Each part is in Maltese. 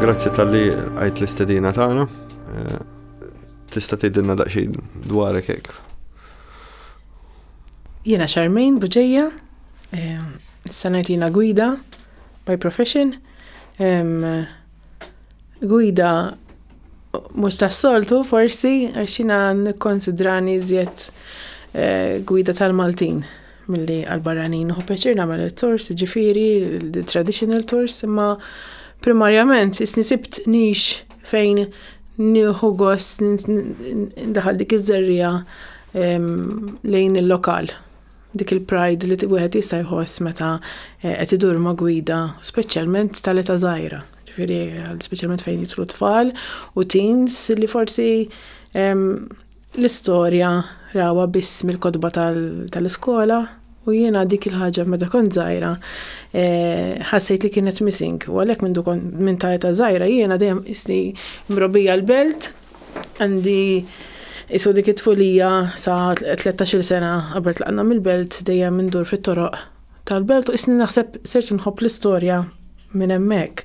Grazzi tal-li għajt l-istedina tagħna. Eh, tista' tgħidilna daqsxejn dwarek hekk. Jiena Charmaine Buġeja, eh, issa ngħid jiena gwida by profession. Gwida mhux tas-soltu forsi għax jiena nikkonsidrani żjed eh, gwida tal-Maltin. Milli għal-barranin hu pjaċir nagħmel it-tors, ġifieri traditional tors, imma primarjament isni sibt nix fejn nieħu gost daħal dik iż-żerrija lejn il-lokal dik il-pride li wieħed jista' jħoss meta eh, qed idur ma' gwida, speċjalment tal-età żgħira. Ġifieri speċjalment fejn jitlu tfal u teens li forsi L-istorja rawha biss mill-kotba tal-iskola u jiena dik il-ħaġa meta kont żgħira ħassejt li kienet missing u għalhekk mindu kont minn ta' età żgħira jiena dejjem qisni mrobbija l-belt għandi iswa dik it-tfulija sa tlettax-il sena qabel tlaqna mill-belt dejjem indur fit-toroq tal-belt u qisni naħseb sirt inħobb l-istorja minn hemmhekk.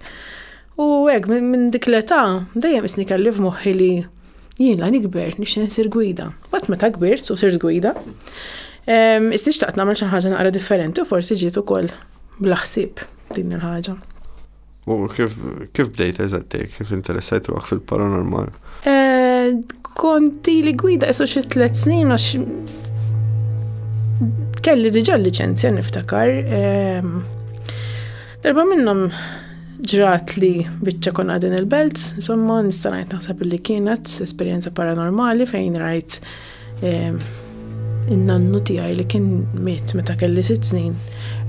U hekk minn min dik l-età dejjem isni kelli f'moħħi li jien la nikber nixtieq nsir gwida. Bat meta kbirt u sirt gwida, ehm, isni xtaqt nagħmel xi ħaġa naqra differenti u forsi ġiet ukoll bla ħsieb din il-ħaġa. U kif, kif bdejt eżattej, kif interessajt ruħak fil-paranormal? Eh, konti li gwida isu xi tliet snin għax kelli diġà liċenzja niftakar. Ehm, Darba minnhom ġrat li biċċa kon għadin il-belt, insomma nista' ngħid naħseb li kienet esperjenza paranormali fejn rajt ehm, in-nannu tiegħi li kien miet meta kelli sitt snin,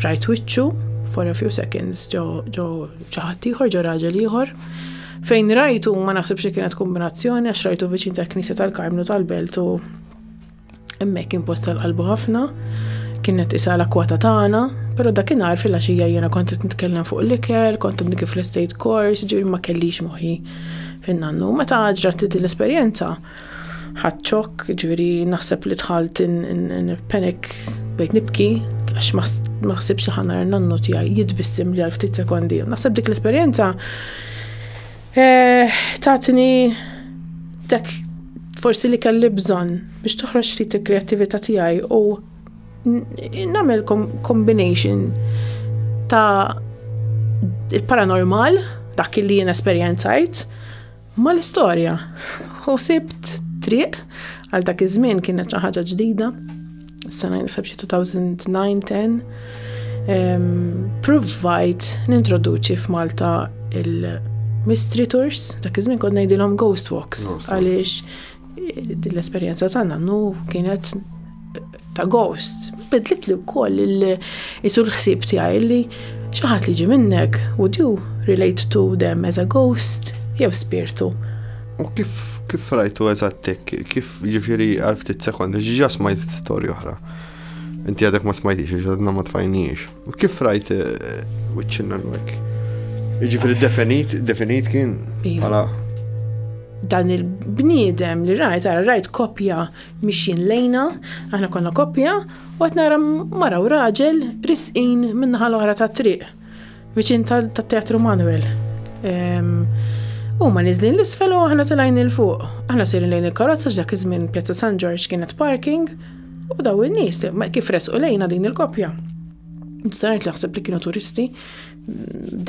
rajt wiċċu for a few seconds ġo ġo ċaħat ieħor ġo raġel ieħor. Fejn rajtu ma naħsibx li kienet kombinazzjoni għax rajtu viċin tal-Knisja tal-Karmnu tal-Belt u Hemmhekk kien post tal-qalbu ħafna, kienet isa l-akwata tagħna, però dakinhar fil-għaxija jiena kont qed nitkellem fuq l-ikel, kont qed kif l-estate course, ġifieri ma kellix moħħi fin-nannu. Meta ġrat li din l-esperjenza, ħadd ċokk, ġifieri naħseb li dħalt in panic bejt nibki għax ma ħsibx ħanar nannu tiegħi jitbissim li għal ftit sekondi. Naħseb dik l-esperjenza Eh, tatni dak forsi li kelli bżonn biex toħroġ ftit il-kreattività tiegħi u nagħmel combination ta' il-paranormal dak li jien esperjenzajt ma l-istorja. U sibt triq għal dak iż-żmien kienet xi ħaġa ġdida. Sena naħseb xi 2009-10 provajt nintroduċi f'Malta il-mystery tours, dak iż-żmien kont ngħidilhom ghost walks għaliex l-esperjenza tagħna nu kienet ta' ghost. Bidlit li wkoll il-isul ħsieb tiegħi li xi ħadd li ġi minnek, would you relate to them as a ghost jew spirtu? U kif kif rajtu eżattek, kif Ġifiri għal ftit sekondi, ġiġa smajt storja oħra. Inti għadek ma smajtix, ġadna ma tfajnix. U kif rajt eh, wiċċinna l-wek? Ġifiri definit, definit kien iva. għala. Dan il-bniedem li rajt, għara rajt kopja mixin lejna, aħna konna kopja, u għat nara mara u raġel risqin minnaħal oħra ta' triq Viċin tat-Teatru Manuel. Huma niżlin l-isfel u aħna tilajn il fuq. Aħna sejrin lejn il-karozza x'dak iż-żmien Pjazza San Ġorġ kienet parking u daw in-nies kif resqu lejna din il-koppja. Nistarajt li ħseb li kienu turisti,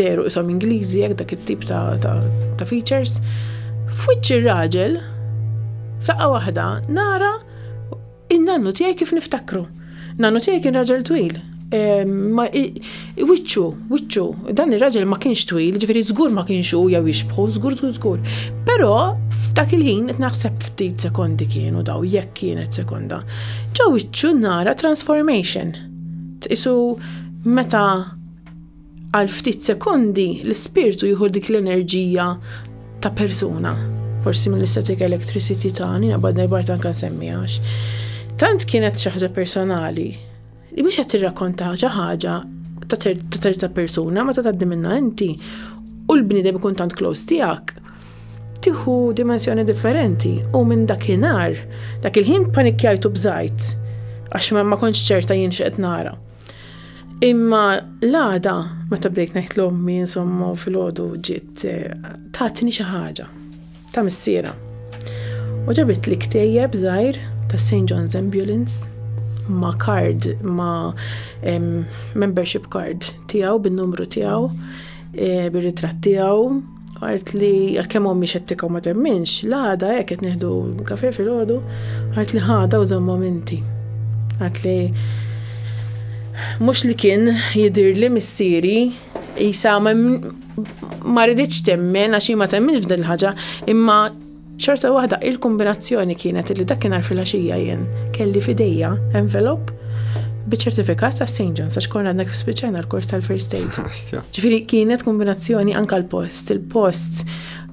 deru isom Ingliżi jekk dak it-tip ta' features. F'wiċċ ir-raġel, faqqa waħda, nara In-nannu tiegħi kif niftakru. Nannu tiegħi kien raġel twil. Wiċċu, wiċċu, dan ir-raġel ma kienx twil, ġifieri żgur ma kienx hu jew jixbħu, żgur żgur żgur. Però f'dak il-ħin qed naħseb ftit sekondi kienu daw jekk kienet sekonda. Ġew wiċċu nara transformation. Tqisu meta Għal ftit sekondi, l-ispirtu jieħu dik l-enerġija ta' persuna, forsi mill-istatic electricity ta' nina bad nerbart anka nsemmijax. Tant kienet xi ħaġa personali, li mhux qed tirrakkonta xi ħaġa ta' terza persuna meta tgħaddi minnha inti u l-bniedem ikun tant close tiegħek tieħu dimensjoni differenti u minn dakinhar dak il-ħin panikkjajtu bżajt għax ma kontx ċerta jien x'qed nara. Imma l-għada, meta bdejt ngħid l-ommi, insomma, fil-ħodu ġiet eh, tatni xi ħaġa ta' missiera. U ġabit li ktejjeb żgħir ta' St. John's Ambulance ma' card, ma' membership card tiegħu bin-numru tiegħu, eh, bir-ritratt tiegħu, Għart li għalkemm ommi xettika u ma temminx, l-għada hekk qed nieħdu kafe fil-għodu, għart li ħada u żommhom inti. Għart li mhux li kien jidir li missieri jisa ma rriditx temmen għax ma temminx f'din il-ħaġa imma Xorta waħda, il-kombinazzjoni kienet li dakinhar filgħaxija jien kelli f'idejja envelop biċ-ċertifikat ta' St. John's għax konna għadna spiċċajna l-kors tal-first aid. Ġifieri kienet kombinazzjoni anka l-post. Il-post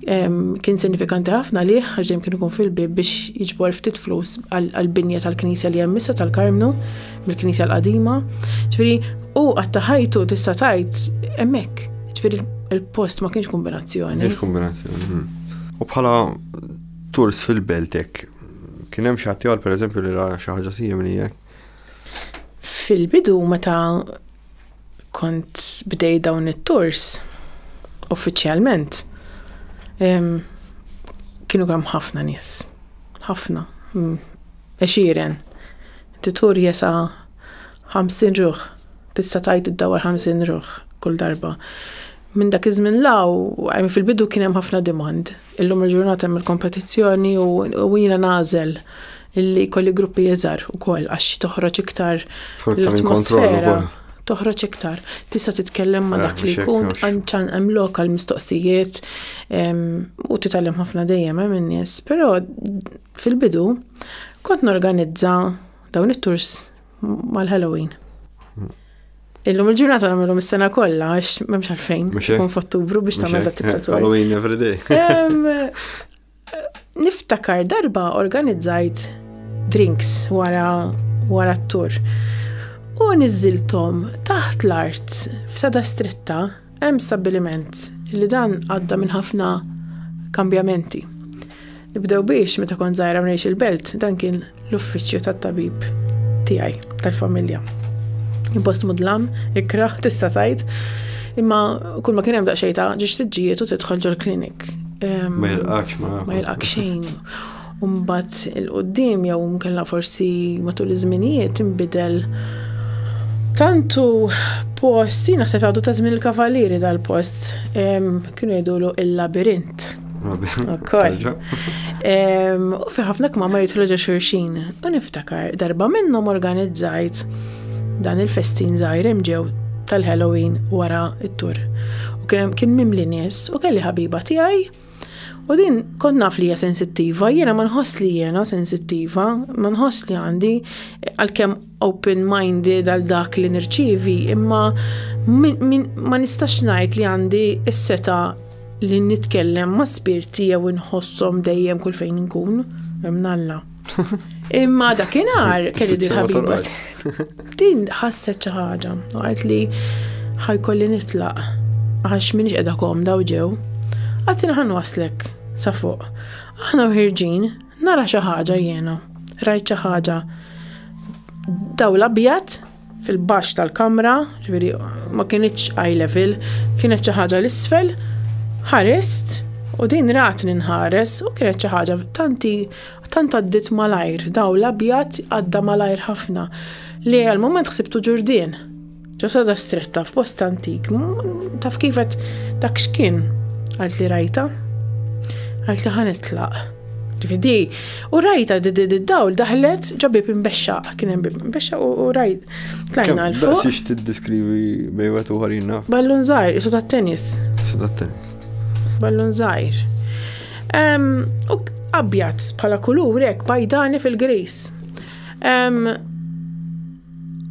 kien sinifikanti ħafna li ħaġem kienu kun fil-bib biex jiġbor ftit flus għal-binja tal-knisja li jemmissa tal-karmnu mill-Knisja l-Qadima. Ġifieri u għatta ħajtu tista' tgħid hemmhekk. Ġifieri il-post ma kienx kombinazzjoni. Kienx kombinazzjoni. Hmm. U bħala turs fil-beltek, kien hemm xi ħadd per pereżempju li ra xi ħaġa simili hekk. Fil-bidu meta kont bdej dawn it-tours uffiċjalment kienu kemm ħafna nies. Ħafna. Hmm. Għexieren. Inti turi jesa' ħamsin ruħ. Tista' tgħid iddawwar ħamsin ruħ kull darba. Minn dak iż-żmien 'l hawn, għajr fil-bidu kien hemm ħafna demand. Illum il-ġurnata hemm il-kompetizzjoni u jiena nagħżel li jkolli gruppi iżgħar ukoll għax toħroġ iktar l-atmosfera. Toħroġ iktar. Tista' titkellem ma' dak li jkun għanċan hemm lokal mistoqsijiet u titgħallem ħafna dejjem hemm in-nies. Però Fil-bidu, kont norganizza dawn it-tours mal-Halloween. Illum il-ġurnata nagħmilhom is-sena kollha għax m'hemmx għalfejn ikun f'Ottubru biex tagħmel dat tip ta' tur. Halloween every day. Niftakar darba organizzajt drinks wara wara t-tur. U niżiltom taħt l-art f'sada stretta Hemm stabbiliment li dan għadda minn ħafna kambjamenti. Nibdew biex meta kont żgħira ngħix il-belt dan kien l-uffiċċju tat-tabib tiegħi tal-familja. Impost mudlam, ikra, tista' tgħid, imma kull ma kien hemm daqsxejn ta' ġiex siġġijiet u tidħol ġol klinik. Ma jilqakx ma. Ma jilqakx xejn. u mbagħad il-qudiem jew mkella forsi matul iż-żminijiet inbidel tantu post, jina se għadu ta' żmien il-kavalieri dal-post, kienu jgħidulu il-labirint. Ukoll. U fi ħafna kmama jitlu ġo xurxin. U niftakar darba minnhom organizzajt dan il-festin żgħir ġew tal-Halloween wara it-tur. U kien mimli nies u kelli ħabiba tiegħi U din kont naf li hija sensittiva, jiena ma nħoss li jiena sensittiva, ma nħoss li għandi għalkemm open-minded għal dak li nirċivi, imma ma nistax ngħid li għandi s-seta li nitkellem ma' spirti jew inħossom dejjem kull fejn inkun, hemm Alla. Imma dakinhar kelli din ħabiba. Din ħasset xi ħaġa u qalt li ħajkolli nitlaq għax minix qiegħda komda u ġew. Għatina ħan waslek sa fuq. Aħna ħirġin nara xi ħaġa jiena. Rajt xi ħaġa dawl abjad fil-baxx tal-kamra, ġifieri ma kinitx eye level, kienet xi ħaġa l-isfel, ħarist u din ratni nħares u kienet xi ħaġa tanti tant għaddit malajr, daw l-abjad għadda malajr ħafna li għal moment ħsibtu ġurdien. Ġasada stretta f'post antik, taf kifet dak xkien għalt li rajta, għalt li ħanitlaq. Ġifi di, u rajta di di d-dawl daħlet ġabib imbexxa, kien hemm bib imbexxa u rajt tlajna l fuq. Xiex tiddiskrivi bejwet u ħarina? Ballun zaħir, isu ta' tennis. Isu ta' tennis. Ballun zaħir. U abjad bħala kulur hekk bajdani fil-gris.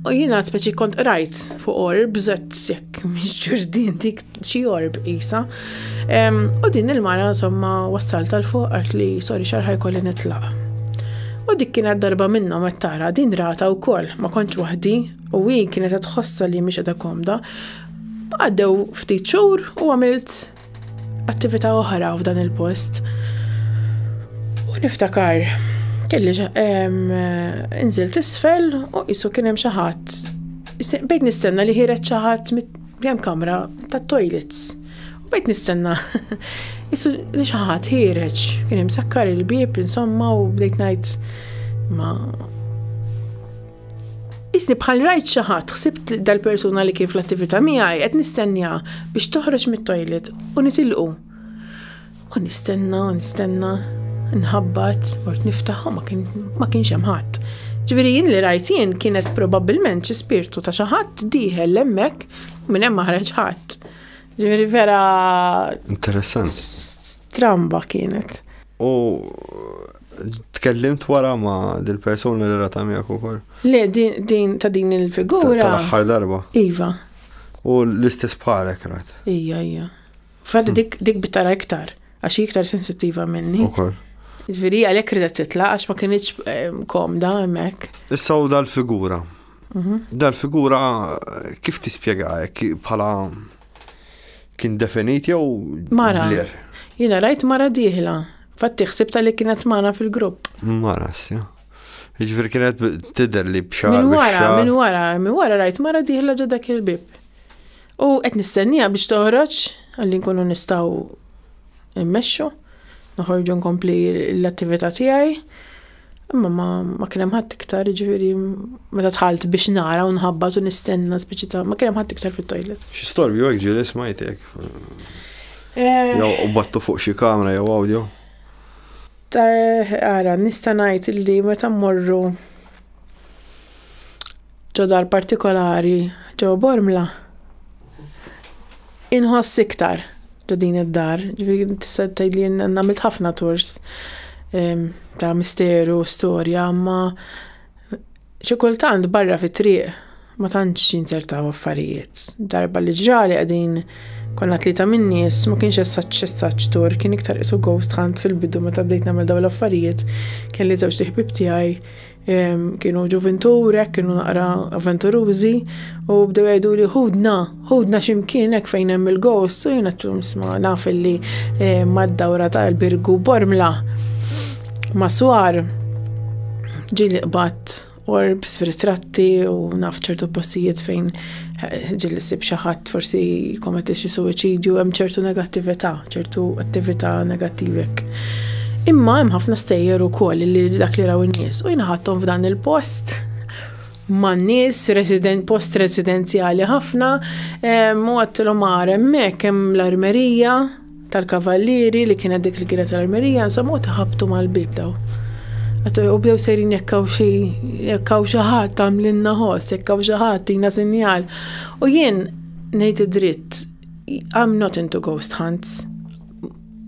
U jina speċi kont rajt fuq orb, zet sekk, miex ġurdin dik xi orb isa. U din il-mara insomma wassal tal-fuq għart li sori xarħaj kolli nitlaq. U dik kienet darba minna ma tara din rata u koll ma konċ wahdi u hi kienet tħossa li miex edha komda. Għaddew ftit xur u għamilt attività oħra f'dan il-post. U niftakar, kelli nżilt isfel u qisu kien hemm xi ħadd. Bejt nistenna li ħiret xi ħadd hemm kamra tat-toilets. U bejt nistenna. Isu li xi ħadd ħireġ, kien hemm sakkar il-bieb insomma u bdejt ngħid ma Isni bħal rajt xi ħadd ħsibt dal-persuna li kien fl-attività miegħi qed nistennja biex toħroġ mit-toilet u nitilqu. U nistenna u nistenna nħabbat mort niftaħ ma kienx hemm ħadd. Ġifieri jien li rajt jien kienet probabbilment xi spirtu ta' xi ħadd dieħel hemmhekk minn hemm maħreġ ħadd. Ġifieri vera. Interessanti. Stramba kienet. U Tkellimt wara ma dil-persuna li rata miegħek ukoll. Le, din ta' din il-figura. Tal-aħħar darba. Iva. U l-istess bħalek rat. Ija, ija. Fad hmm. dik dik bitara iktar, għax iktar sensittiva minni. Ukoll. Ġviri għalhekk ridet titla' għax ma kienx ehm, komda hemmhekk. Issa u dal-figura. Mhm. Dal-figura kif tispjega bħala Kien definit jew Mara. blir? Jiena rajt mara dieħla. Fatti ħsibta li kienet magħna fil-grupp. Mara, sja. Ġifieri kienet b- tidher li b'xar. Minn wara, bix-xagħar. minn wara, minn wara rajt mara dieħla ġo dak il-bib. U qed nistennija biex toħroġ għalli nkunu nistgħu immexxu, noħorġu nkompli l-attività tiegħi. Imma ma, ma kien hemm ħadd iktar, jiġifieri meta dħalt biex nara u nħabbat u nistenna speċi ta' ma kien hemm ħadd iktar fit-toilet. Xi storbju hekk ġieli smajtek? Eh. Jew u battu fuq xi kamra jew audio? Tar, ara, nista' ngħid li meta mmorru Ġo dar partikolari ġo Bormla inħoss iktar ġo din id-dar, ġifieri tista' tgħidli nagħmilt ħafna tours ehm, ta' misteru, storja, ma xi kultant barra fit-triq ma tantx jinzertaw affarijiet. Darba li ġrali qegħdin konna tlieta minn nies ma kienx essaċ essaċ tur kien iktar isu ghost hunt fil-bidu meta bdejt nagħmel dawn l-affarijiet kelli żewġ liħbib tiegħi Kienu ġuvintur, hekk kienu naqra avventurużi u bdew jgħidu li ħudna, ħudna ximkien hekk fejn hemm il-ghost u jiena tlum sma naf li eh, mad-dawra ta' il-birgu bormla ma' swar ġili qbad orbs f'ritratti u naf ċertu postijiet fejn ġil sib xaħat forsi kometti xi suwiċidju hemm ċertu negattività, ċertu attività negattivek. Imma hemm ħafna stejjer ukoll li dak li raw in-nies u jinaħattom f'dan il-post man nies resident post residenzjali ħafna u għattilhom għarem hemmhekk hemm l-armerija tal-kavallieri li kienet dik il-gira tal-armerija, insomma, u taħabtu mal-bib daw. Għattu u bdew sejrin jekkaw xi jekkaw xi ħadd tagħmlilna ħoss, jekkaw xi ħadd tina sinjal. U jien ngħid id-dritt, I'm not into ghost hunts.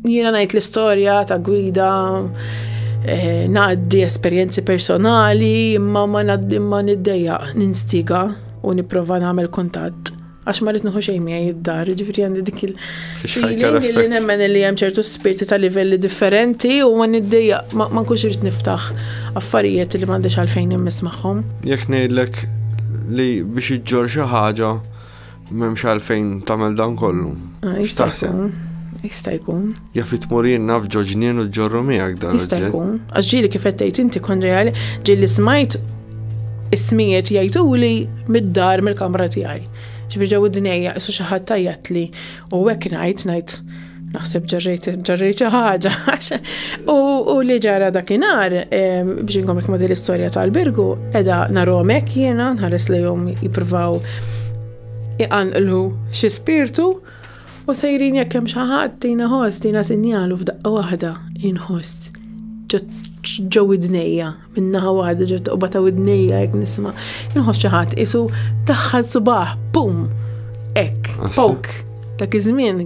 Jiena ngħid l-istorja ta' gwida eh, ngħaddi esperjenzi personali, imma ma ngħaddi ma niddejja ninstiga u nipprova nagħmel kuntatt. għax ma rrid nħu xejn miegħi id-dar, ġifieri għandi dik il feeling li nemmen li hemm ċertu spirti ta' livelli differenti u ma niddejja ma nkunx irid niftaħ affarijiet li m'għandix għalfejn immiss magħhom. Jekk ngħidlek li biex iġġor xi ħaġa m'hemmx għalfejn tagħmel dan kollu. Ah, jista' jkun. Jista' jkun. Jaf li tmur jien naf ġo ġnien u ġorru miegħek dan. Jista' jkun, għax ġieli kif qed tgħid inti kont reali, ġieli smajt ismijiet jgħiduli mid-dar mill-kamra tiegħi. Ġifieri ġew id-dnejja isu xi ħadd tajjatli u hekk ngħid ngħid naħseb ġarrejt ġarrejt xi ħaġa. U li ġara dakinhar biex inkom ma din l-istorja tal-birgu, edha narhom hekk jiena nħares lejhom jippruvaw iqanqlu xi spirtu U sejrin jekk hemm xi ħadd tina ħoss, tina sinjalu f'daqqa waħda inħoss ġo widnejja, minnaħa waħda ġo toqba ta' widnejja jekk nisma'. Inħoss xi ħadd isu daħħal subaħ, pum! Ek, ah, pok. Dak iż-żmien,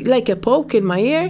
like a poke in my ear.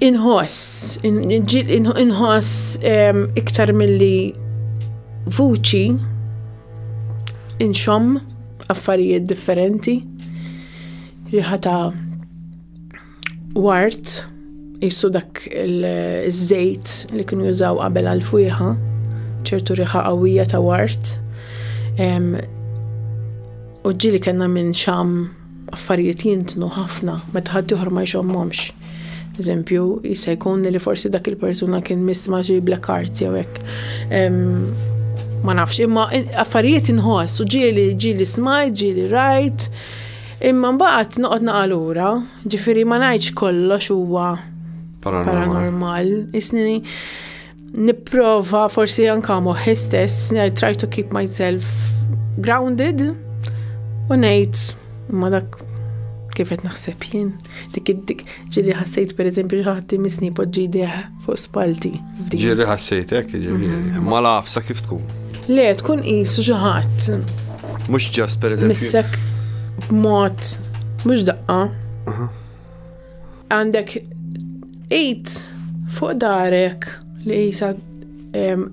Inħoss, inħoss iktar milli vuċi, inxomm affarijiet differenti, riħa ta' wart, jissu dak il-żejt li kienu jużaw qabel għal-fwieħa, ċertu riħa qawwija ta' wart, u ġili kena minn xam Affarijiet jintnu ħafna meta ħaddieħor ma jxommhomx. Eżempju, jista' jkun li forsi dak il-persuna kien miss ma' xi black arts jew hekk. Ma nafx, imma affarijiet inħoss u ġieli ġieli smajt, ġieli rajt. Imma mbagħad noqgħod naqa' lura, ġifieri ma ngħidx kollox huwa paranormal. Isni Nipprova forsi anka moħħi stess, I try to keep myself grounded u ngħid imma dak kif qed naħseb jien. Dik dik ġieli ħassejt pereżempju xi ħadd imisni poġġi deħ fuq spalti. Ġieli ħassejt hekk ġieli. Mhm. Ma lafsa kif tkun. Le tkun qisu xi ħadd. Mhux ġast pereżempju. Missek b'mod mhux daqqa. Għandek id fuq darek li jisa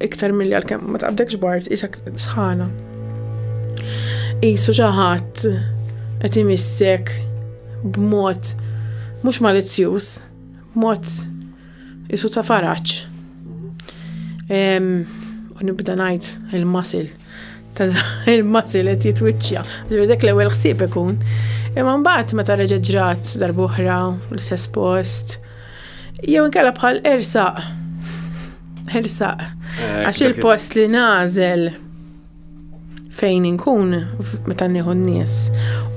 iktar mill-li għal-kem ma taqbdekx bart, jisa sħana. Jisu xaħat għet imissek b'mod mux malizzjus, b'mod Isu ta' faraċ. U nibda ngħid il-masil ta' il-masil qed jitwiċċja. Dak l-ewwel ħsieb ikun. Imma mbagħad meta reġa' ġrat darbohra l-istess post. Jew inkella bħal ersaq. Ersaq. Eh, Għax il-post li nażel fejn inkun meta nieħu n-nies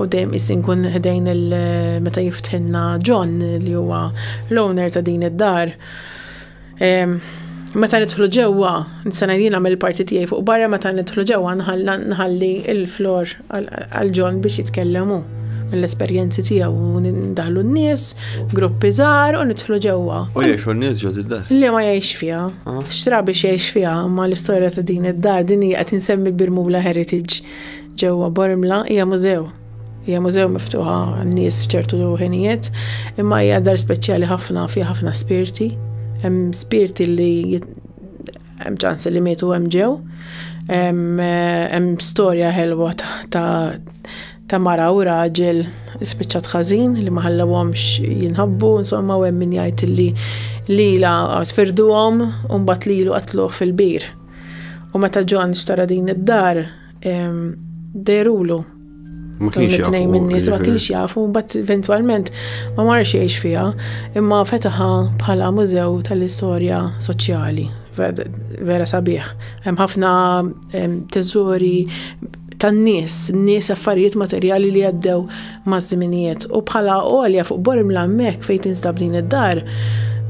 u dejjem is inkun ħdejn il meta jiftħinna John li huwa l-owner ta' din id-dar. Meta nidħlu ġewwa, nisana jien għamil parti tiegħi fuq barra meta nidħlu ġewwa nħalli il-flor għal John biex jitkellemu mill-esperjenzi tiegħu u ndaħlu n-nies, gruppi żgħar u nidħlu ġewwa. U jgħixu n-nies ġod id-dar. Li ma jgħix fiha. Xtra biex jgħix fiha, imma l-istorja ta' din id-dar din hija qed insemmi l-Birmula Heritage ġewwa Bormla hija mużew. Hija mużew miftuħa n-nies f'ċertu ħinijiet, imma hija dar speċjali ħafna fi ħafna spirti. Hemm spirti li hemm ċans li mietu hemm ġew. Hemm storja ħelwa ta' ta' mara u raġel spiċċat ħażin li ma ħallewhomx jinħabbu, insomma u hemm min jgħid li lila sfirduhom u mbagħad lilu qatluh fil-bir. U meta John xtara din id-dar derulu. Ma kienx jafu. minn nies ma kienx jafu, mbagħad eventwalment ma marx jgħix fiha, imma fetaħa bħala mużew tal-istorja soċjali vera sabiħ. Hemm ħafna teżori tan-nies, nies affarijiet materjali li għaddew maż-żminijiet. U bħala għolja fuq Bormla hemmhekk fejn tinstab din id-dar,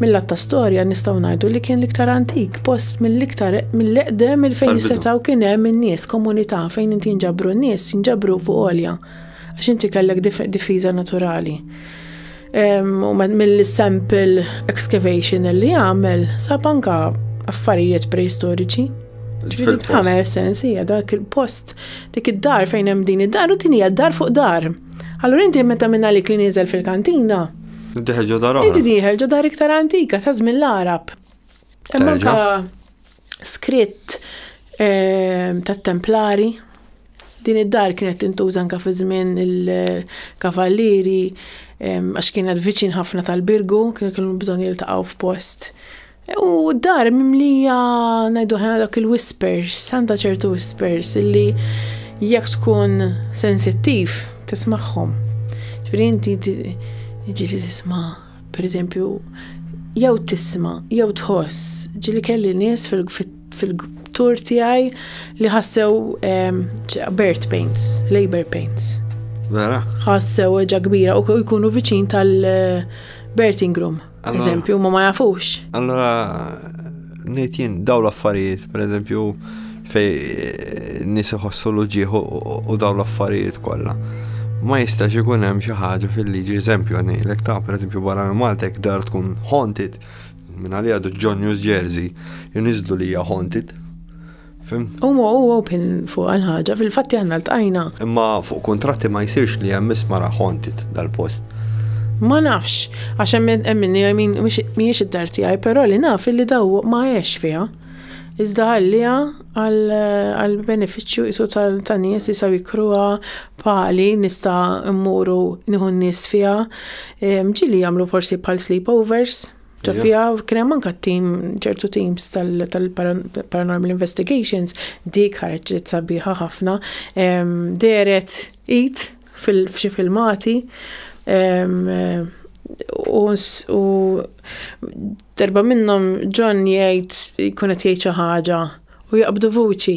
mill-att ta' storja nistgħu ngħidu li kien l-iktar antik, post mill-iktar mill-eqdem il fejn setgħu kien hemm in-nies, komunità fejn inti nġabru n-nies, nġabru fuq għolja għax inti kellek difiża naturali. U mill-sample excavation li għamel sab anka affarijiet preistoriċi. Ġifieri tħamel sens hija dak il-post dik id-dar fejn hemm din id-dar u din hija d-dar fuq dar. Allura inti meta minn għalik li nieżel fil-kantina. Diħel ġo dar. Inti diħel ġo dar iktar antika ta' żmien l-Arab. Imma Skritt ehm, tat-Templari. Din id-dar kienet tintuża anke fi żmien il-Kavallieri ehm, għax kienet viċin ħafna tal-Birgu, kienu kienu bżonn jiltaqgħu f'post. U d-dar mimlija ngħidu ħana dak il-whispers, santa ċertu whispers illi jekk tkun sensittiv tismagħhom. Ġifieri inti ġieli tisma' Per eżempju, jew tisma, jew tħoss, ġili kelli nies fil-tur tiegħi li ħassew ehm, bird pains, labor pains. Vera? Ħassew ġa kbira u jkunu viċin tal-birthing eh, room. Eżempju, ma ma jafux. Allora, Ngħid jien daw l-affarijiet, pereżempju fej eh, nies iħossu l-uġieħ u daw l-affarijiet kollha. Ma jistax ikun hemm xi ħaġa fil-liġi eżempju ngħidlek ta' pereżempju barra minn Malta jekk dar tkun haunted minn għalija John News Jersey jniżlu li hija haunted Fim? U mu u open fuq għal-ħagġa, fil-fatti għanna l-tajna. Imma fuq kontratti ma jisirx li hemm isma raħontit dal-post. Ma nafx, għax hemm minni għajmin miex id-dar tiegħi, però li naf li daw ma għex fiha. Iżda għallija għal-beneficju jisu tal-nies jisaw jikruha pali nista mmuru nieħu nies fiha. Ġili jagħmlu forsi pal sleepovers. Ġa fija kien hemm anke tim ċertu teams tal-paranormal investigations dik ħarġet sabiħa ħafna deret it f'xi filmati u darba minnhom John jgħid jkun qed jgħid xi ħaġa u jaqbdu vuċi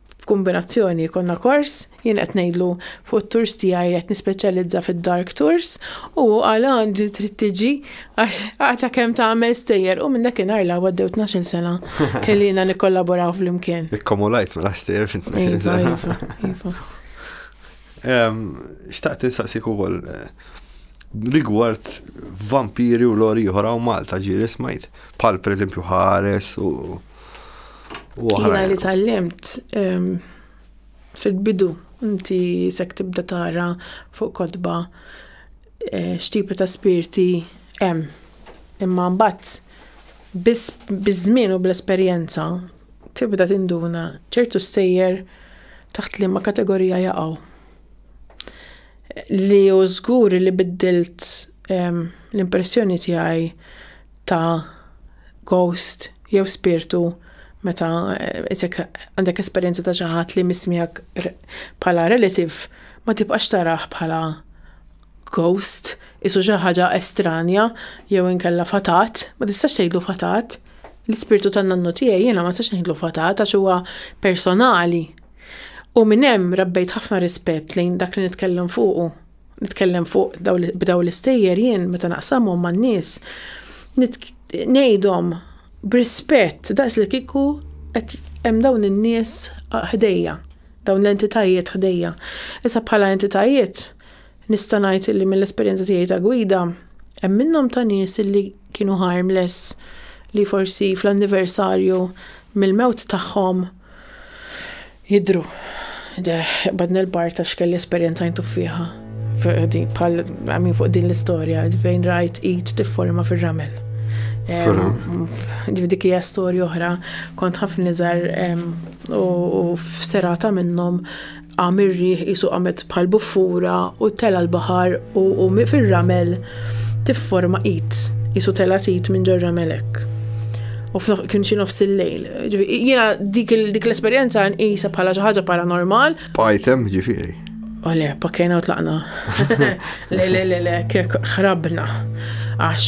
f'kumbinazzjoni jkollna kors, jien qed ngħidlu fuq it-tours tiegħi qed nispeċjalizza fid-dark tours u hu qal ah inti trid tiġi għax għata kemm tagħmel stejjer u minn dakinhar l għaddew tnax-il sena kellina nikkollaboraw flimkien. Ikkomulajt mela stejjer fit tnax-il iva, sena. Iva, iva. Xtaqt insaqsik ukoll eh, rigward vampiri u lori oħra u Malta ġiri smajt, pal per eżempju ħares u Jina li tal-lemt ehm, fil-bidu inti sek tibda tara fuq kodba eh, xtipi ta' spirti hemm. Imma mbagħad biż-żmien u bl-esperjenza tibda tinduna ċertu stejjer taħt li ma kategorija jaqgħu. Li u żgur li biddilt ehm, l-impressjoni tiegħi ta' ghost jew spirtu meta isek għandek esperjenza ta' xi ħadd li mismiegħek bħala relative ma tibqax tarah bħala ghost, isu xi ħaġa estranja jew inkella fatat, ma tistax tgħidlu fatat. L-ispirtu tan-nannu tiegħi jiena ma tistax ngħidlu fatat għax huwa personali. U minn hemm rabbejt ħafna rispett lejn dak li nitkellem fuqu nitkellem fuq b'daw l-istejjer jien meta naqsamhom man-nies ngħidhom b'rispett daqs li kieku qed hemm dawn in-nies ħdejja, dawn l-entitajiet ħdejja. Issa bħala entitajiet nista' ngħid li mill-esperjenza tiegħi ta' gwida hemm minnhom ta' nies li kienu harmless li forsi fl-anniversarju mill-mewt tagħhom Jidhru. Badna l-bar ta' x'kelli esperjenza jintuffiha. Bħal għamin fuq din l-istorja, fejn rajt id tifforma fir-ramel. Dik hija storja oħra, kont ħafna niżar u f'serata minnhom Qam ir-riħ qisu qamet bħal buffura u tela' l-baħar u u fir-ramel tifforma id, qisu tela' id minn ġor ramel hekk. U kien xi nofs il-lejl. Jiena dik l-esperjenza nqisha bħala xi ħaġa paranormal. Pajtem ġifieri. U le, pakkejna u tlaqna. Le, le, le, le, kek ħrabna. Għax,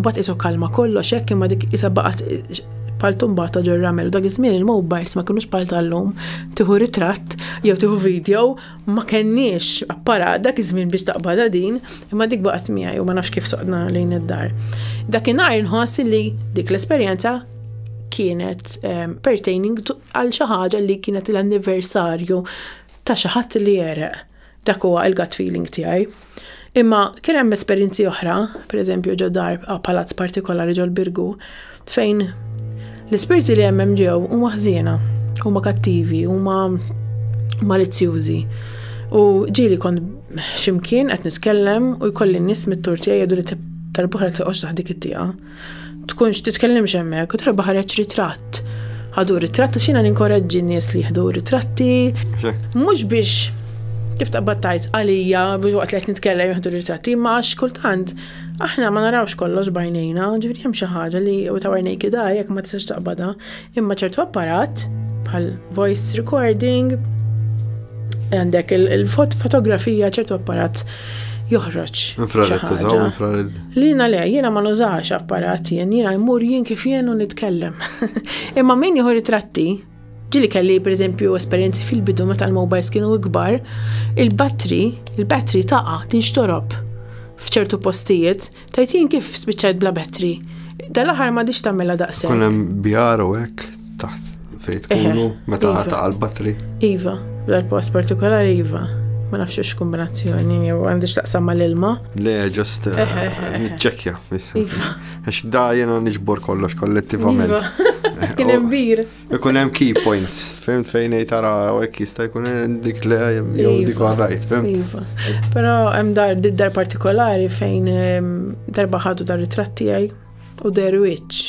bat isu kalma kollox, hekk imma dik isa baqat paltum bata ġor ramel, dak iż-żmien il-mobiles ma kienux pal tal-lum, tieħu ritratt jew tieħu video ma kenniex apparat dak iż-żmien biex taqbadha din, imma dik baqgħet miegħi u ma nafx kif soqna lejn id-dar. Dakinhar inħoss li dik l-esperjenza kienet ehm, pertaining għal xi ħaġa li kienet l-anniversarju ta' xi ħadd li jereq. Dak huwa il-gut feeling tiegħi. Imma kien hemm esperjenzi oħra, pereżempju ġo dar palazz partikolari ġol birgu fejn l-ispirti li hemm ġew huma ħżiena, huma kattivi, huma malizzjużi. U ġieli kont ximkien qed nitkellem u jkolli n-nies mit-tur tiegħi jgħidu li tal-boħra tiqgħodx taħt dik it-tieqa. tkunx titkellimx hemmhekk, darba ħareġ ritratt. Ħadu ritratt għax jiena ninkoraġġi nies li jieħdu ritratti. Mhux biex kif taqbad tajt għalija biex waqt li qed nitkellem jieħdu ritratti, ma għax kultant aħna ma narawx kollox bajnejna, ġifieri hemm xi ħaġa li u ta' għajnejki da jekk ma tistax taqbadha, Imma ċertu apparat, bħal voice recording, għandek il-fotografija ċertu apparat joħroġ. Infrared tużaw, infrared. Lina le, jiena ma nużax apparat jien, jiena jmur jien kif jien u nitkellem. Imma min jieħu ritratti, ġili kelli per eżempju esperienzi fil-bidu meta l-mobiles kienu ikbar, il-battery, il-battery taqa, tinxtorob f'ċertu postijiet, Tgħid jien kif spiċċajt bla bettri? Dal-aħħar m'għadix tagħmilha daqshekk. Kun hemm bjar u hekk taħt fejn tkunu meta iva. ta' l-battri. Iva, dal-post partikolari iva. Ma nafx x kombinazzjoni jew għandix taqsam mal-ilma. Le, ġust eh, ċekja. Iva. Għax da jena nġbor kollox kollettivament. Iva. Kien imbir. Ikun hemm key points, fimt fejn ngħid tara hekk jista' jkun dik le jew dik iva. rajt, fimt. Iva. Però hemm dar dar partikolari fejn ehm, darba ħadu dar ritratt tiegħi u der wiċċ.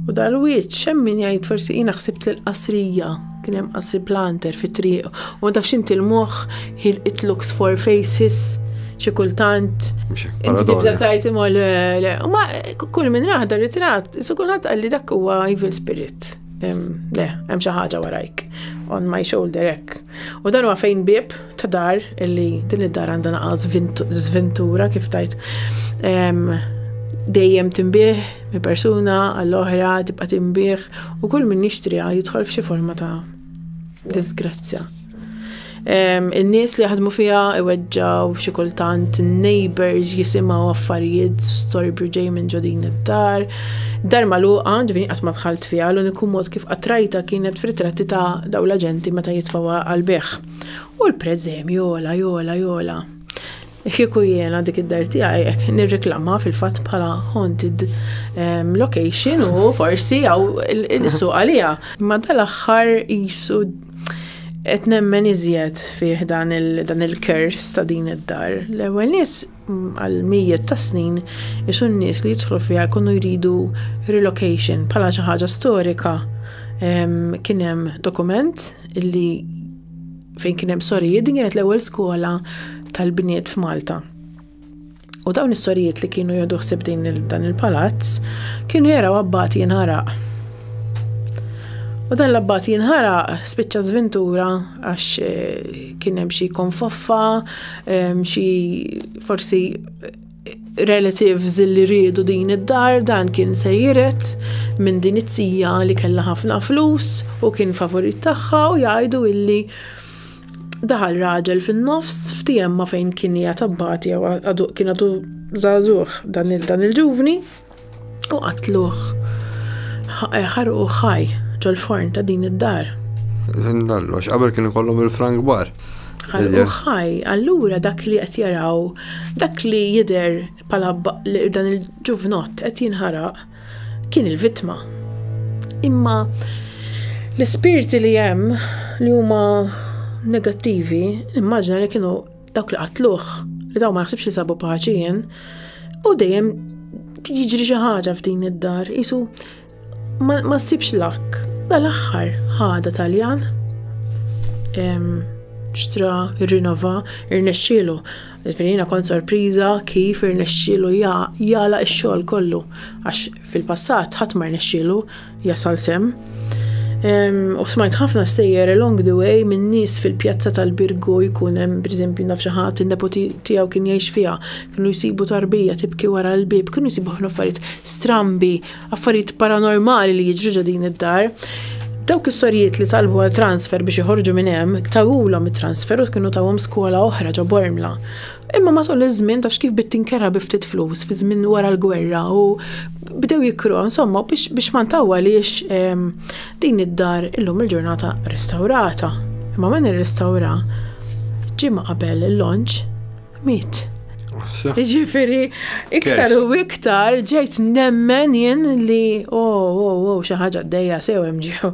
U dar wiċċ hemm min jgħid forsi jiena ħsibt l qasrija kien hemm qasri planter fit-triq u ma tafx inti l-moħħ He'll it looks for faces, xi kultant. Inti tibda tajt imma le, le. U ma kull minn raħda ritrat, su kulħadd qalli dak huwa evil spirit. Le, hemm xi ħaġa warajk. On my shoulder hekk. U dan huwa fejn bib ta' dar illi din id-dar għandha naqas żventura kif tajt dejjem timbih mi persuna għall-oħra tibqa' timbih u kull min jixtriha jidħol f'xi forma ta' Disgrazzja. In-nies li jaħdmu fiha iweġġaw xi kultant neighbors jisimgħu affarijiet storbju ġej minn ġodin id-dar. Dar magħluqa ġifieri qatt ma dħalt fiha l-uniku mod kif qatrajta kienet f'ritratti ta' daw l-aġenti meta jitfgħu għal beħ. U l-prezzemju jola jola jola. Kieku jiena dik id-dar tiegħi hekk nirreklamha fil-fatt bħala haunted ehm, location u forsi għaw il-suq għalija. Ma dal-aħħar jisu qed nemmen iżjed fih dan il-kers ta' din id-dar. L-ewwel nies mm, għal mijiet ta' snin isu n-nies li jidħlu fiha jkunu jridu relocation bħala xi ħaġa storika. Ehm, kien hemm dokument li fejn kien hemm sorijiet, din kienet l-ewwel skola tal-bniet f'Malta. U dawn is-sorijiet li kienu jodu ħsib din dan il-palazz kienu jaraw abbati jinħaraq. U dan l-abbati jinħaraq spiċċa żvintura għax eh, kien hemm xi konfoffa, eh, xi forsi relatives li riedu din id-dar dan kien se jiret minn din it-tija li kellha ħafna flus u kien favorit tagħha u jgħidu illi daħal raġel fin-nofs f'tijemma fejn kien hija tabbati jew kien għadu żagħżugħ dan il-ġuvni. u qatluh, ħarquh ħaj ġol-forn ta' din id-dar. Minn kollox, qabel kien ikollhom il-frank bar. Ħarquh ħaj, allura dak li qed jaraw, dak li jidher bħala dan il-ġuvnott qed jinħaraq kien il-vittma. Imma l-ispirti li hemm li huma negattivi, immaġna li kienu Dawk li qatluh, li daw ma naħsibx li sabu paċi jien, u dejjem jiġri xi ħaġa f'din id-dar, isu ma ssibx lak. Dal-aħħar ħada Taljan xtra, irrinova, irnexxielu. Finina kont sorpriża kif irnexxielu jala x-xogħol kollu għax Fil-passat ħadd ma rnexxielu jasal sehem. U smajt ħafna stejjer along the way minn nies fil-pjazza tal-Birgu jkun hemm pereżempju naf xi ħadd in-nepoti tiegħu kien jgħix fiha, kienu jsibu tarbija tibki wara l-bieb, kienu jsibu ħafna affarijiet strambi, affarijiet paranormali li jiġru ġo din id-dar. Dawk is-sorijiet li talbu għal transfer biex iħorġu minn hemm, tawulhom it-transfer u kienu tawhom skola oħra ġo Bormla. Imma matul iż-żmien tafx kif bit tinkerha bi ftit flus fi żmien wara l-gwerra u bdew jikru, insomma, biex, biex ma ntawwaliex ehm, din id-dar illum il-ġurnata restawrata. Imma min irrestawra ġimgħa qabel il-launch miet. Ġifiri, iktar u iktar ġejt nemmen jien li oh, oh, oh, xi ħaġa d-dejja sew hemm ġew.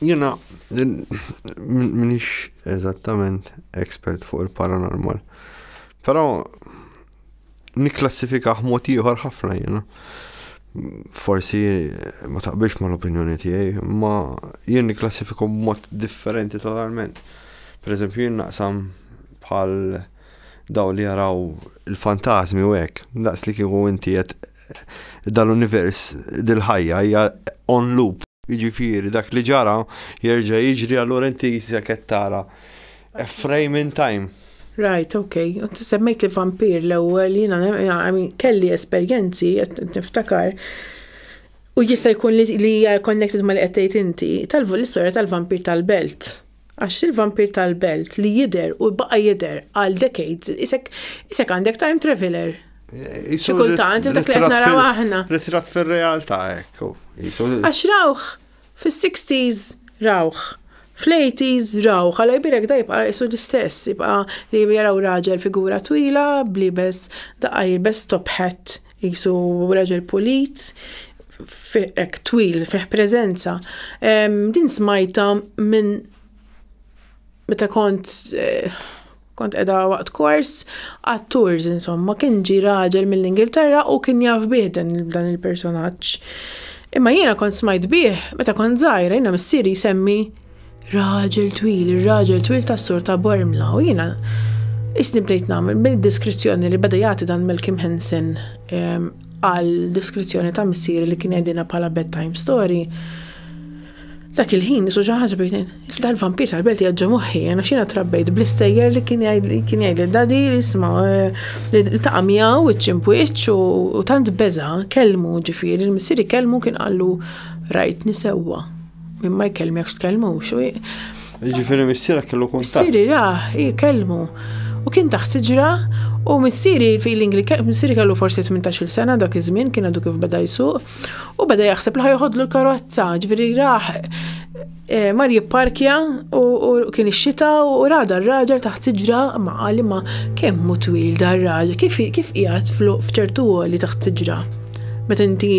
Jiena Minix eżattament expert fuq il-paranormal. Però nikklassifikah mod ieħor ħafna jiena. Forsi ma taqbilx mal-opinjoni tiegħi, ma jien nikklassifiku b'mod differenti totalment. Per eżempju, jien naqsam bħal Dawn li jaraw il-fantasmi u hekk, daqs li kieku inti qed dal-univers, dil-ħajja hija on loop. Jiġifieri dak li ġara jerġa' jiġri allura inti jisek qed tara a frame in time. Right, ok. Int semmejt li vampir l-ewwel, jiena I mean kelli esperjenzi qed niftakar u jista' jkun li hija connected ma' li qed tgħid inti, tal-istorja tal-vampir tal-belt. Għax il-vampir tal-belt li jidher u baqa' jidher għal decades, isek isek għandek time traveler. Xi kultant dak li qed naraw aħna. Ritrat fir-realtà hekk. Għax rawh fis-60s rawh. Fl-80s raw, ħala jbirek da jibqa' jisu l-istess, jibqa' li jaraw raġel figura twila, blibes, daqqa jilbes top hat, Qisu raġel pulit, hekk twil, fih preżenza. Din smajta minn meta kont eh, kont qiegħda waqt kors għat-tours insomma, kien ġi raġel mill-Ingilterra u kien jaf bih dan il-personaġġ. Imma jiena kont smajt bih meta kont żgħira, jiena missieri jsemmi Raġel twil, ir-raġel twil tas-sur ta' Bormla u jiena isni bdejt nagħmel bil-diskrizzjoni li beda jagħti dan Malcolm Henson ehm, għal diskrizzjoni ta' missieri li kien għedina bħala bedtime story dak il-ħin nisu ġaħġa bejn dan vampir tal-belt jaġġa moħħi, għana xina trabbejt bl-istejjer li kien jgħid li dadi li jisma eh, li taqa miegħu iċ-ċimpwiċ u tant beza kelmu ġifieri il-missieri kelmu kien qallu rajt nisewwa. Min ma jkellmekx tkellmux. Ġifieri missierek kellu kuntatt. Missieri ra, jkellmu. U kien taħt siġra u missieri feeling li missieri kellu forsi 18-il sena dak iż-żmien kien għadu kif beda jsuq u beda jaħseb li ħajħodlu l-karozza, ġifieri raħ eh, mar jipparkja u kien ix-xita u rada r-raġel taħt siġra ma qali ma kemm hu twil dar raġel kif kif qiegħed f'ċertu għoli taħt siġra. Meta inti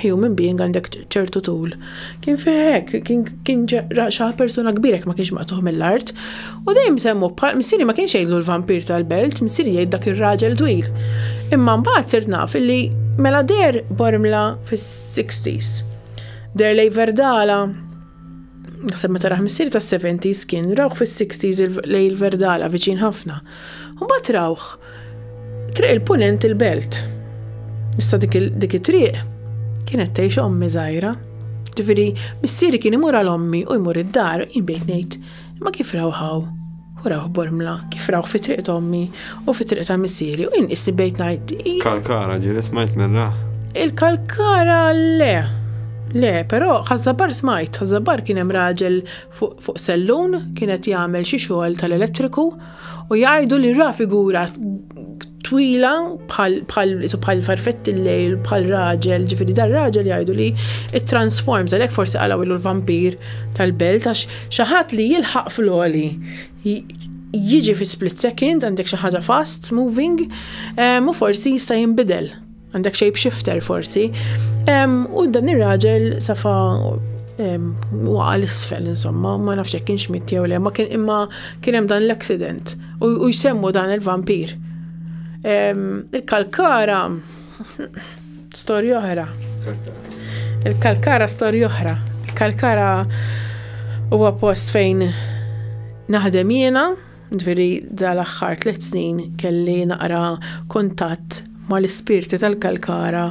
human being għandek ċertu tul. Kien fih hekk, kien kien ġa- ra xi persuna kbira jekk ma kienx maqtuħ mill-art. U dejjem semmu bħal missieri ma kienx jgħidlu l-vampir tal-belt, missieri jgħid dak ir-raġel twil. Imma mbagħad sirt naf li mela der Bormla fis-60s. Der lej Verdala, naħseb meta raħ missieri tas-70s kien rawh fis-60s il- lej il-Verdala viċin ħafna. U mbagħad rawh triq il-punent il-belt. Issa dik it-triq kienet tgħix ommi żgħira. Ġifieri missieri kien imur għal ommi u jmur id-dar, jien bdejt ngħid, ma kif rawħaw? U rawh bormla, kif rawh fi triq ommi u fi triq ta' missieri u jien qisni bdejt ngħid. Kalkara ġieli smajt minn rah. Il-kalkara le. Le, però ħażabar smajt, ħażabar kien hemm raġel fuq sellun kien qed jagħmel xi xogħol tal-elettriku u jgħidu li ra figura twila bħal farfett il-lejl bħal raġel, ġifieri dar raġel jgħidu li it-transforms għalhekk forsi qalgħu ilu l-vampir tal-belt għax xi ħadd li jilħaq fl-oli jiġi fi split second għandek xi ħaġa fast moving u forsi jista' jinbidel. Għandek shape shifter forsi. U dan ir-raġel safa waqa l-isfel, insomma, ma nafx jekk kienx mit jew le, ma kien imma kien hemm dan l-accident u jsemmu dan il-vampir. Il-kalkara storja oħra. Il-kalkara storja oħra. Il-kalkara huwa post fejn naħdem jiena, Ġifieri dal-aħħar tliet snin kelli naqra kuntatt mal-ispirti tal-Kalkara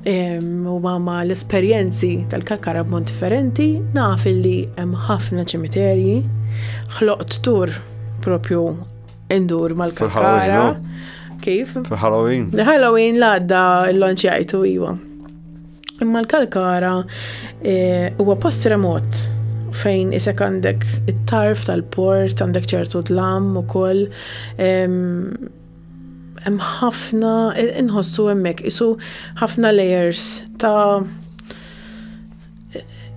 u ma l-esperjenzi tal-Kalkara b'mod differenti, naf li hemm ħafna ċimiterji, ħloqt tur propju indur mal-Kalkara. Kif? Fil-Halloween. Halloween l-għadda l-lonċ jajtu, iwa. Imma l-Kalkara eh, huwa e, post remot fejn isek għandek it-tarf tal-port, għandek ċertu dlam u koll. Hemm ħafna, inħossu hemmhekk isu ħafna layers ta'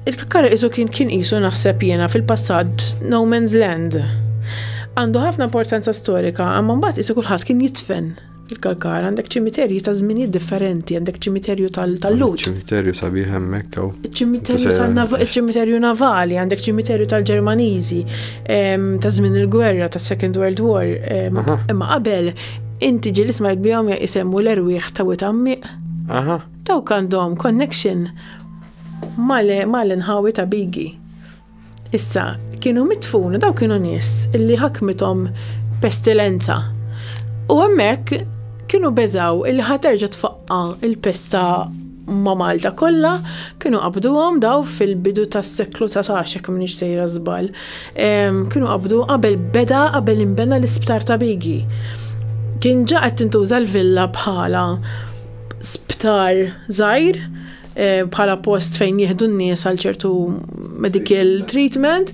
Il-kakkar isu kien kien isu naħseb jiena fil-passat no man's land. Għandu ħafna importanza storika, għamma mbagħad isu kulħadd kien jitfen Il-Kalkar għandek ċimiterji ta' żminijiet differenti, għandek ċimiterju tal-Lut. Ċimiterju sabiħ hemmhekk hawn. Ċimiterju navali, għandek ċimiterju tal-Ġermaniżi ta' żmien il-gwerra ta' Second World War. Imma qabel inti ġilis ma jbihom jisemmu l-erwieħ ta' witammiq. Dawk għandhom connection mal-inħawi ta' Bigi. Issa, kienu mitfun, daw kienu nies illi ħakmithom pestilenza. U hemmhekk kienu beżaw illi ħaterġa tfaqqa il-pesta ma' Malta kollha, kienu qabduhom daw fil-bidu tas-seklu 19 jekk minix sejra żball. Kienu qabdu qabel beda qabel inbena l-isptar ta' Bigi. Kien ġa qed tintuża l-villa bħala sptar żgħir Eh, bħala post fejn jieħdu n-nies għal ċertu medical treatment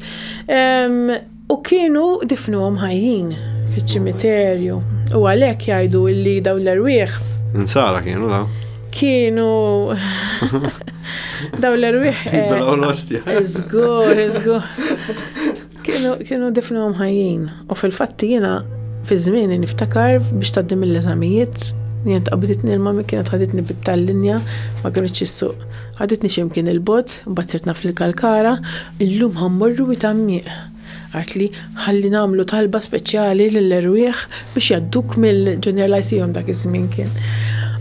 u kienu difnu ħajjin fiċ-ċimiterju u għalhekk jgħidu li daw l-erwieħ. Insara kienu da? Kienu daw l-erwieħ. Zgur, eh, zgur. Kienu kienu difnuhom ħajjin u fil-fatt jiena fi żmieni niftakar biex tgħaddi mill-eżamijiet jien tqabiditni l-ma min kienet ħaditni bit-tal-linja ma kinitx issuq. Ħaditni xi mkien il-bogħod, imbagħad sirt naf lil Kalkara, illum ħa mmorru Wied Għammieq. Qaltli ħalli nagħmlu talba speċjali lill-erwieħ biex jgħadduk mill-Junior Lyceum dak iż-żmien kien.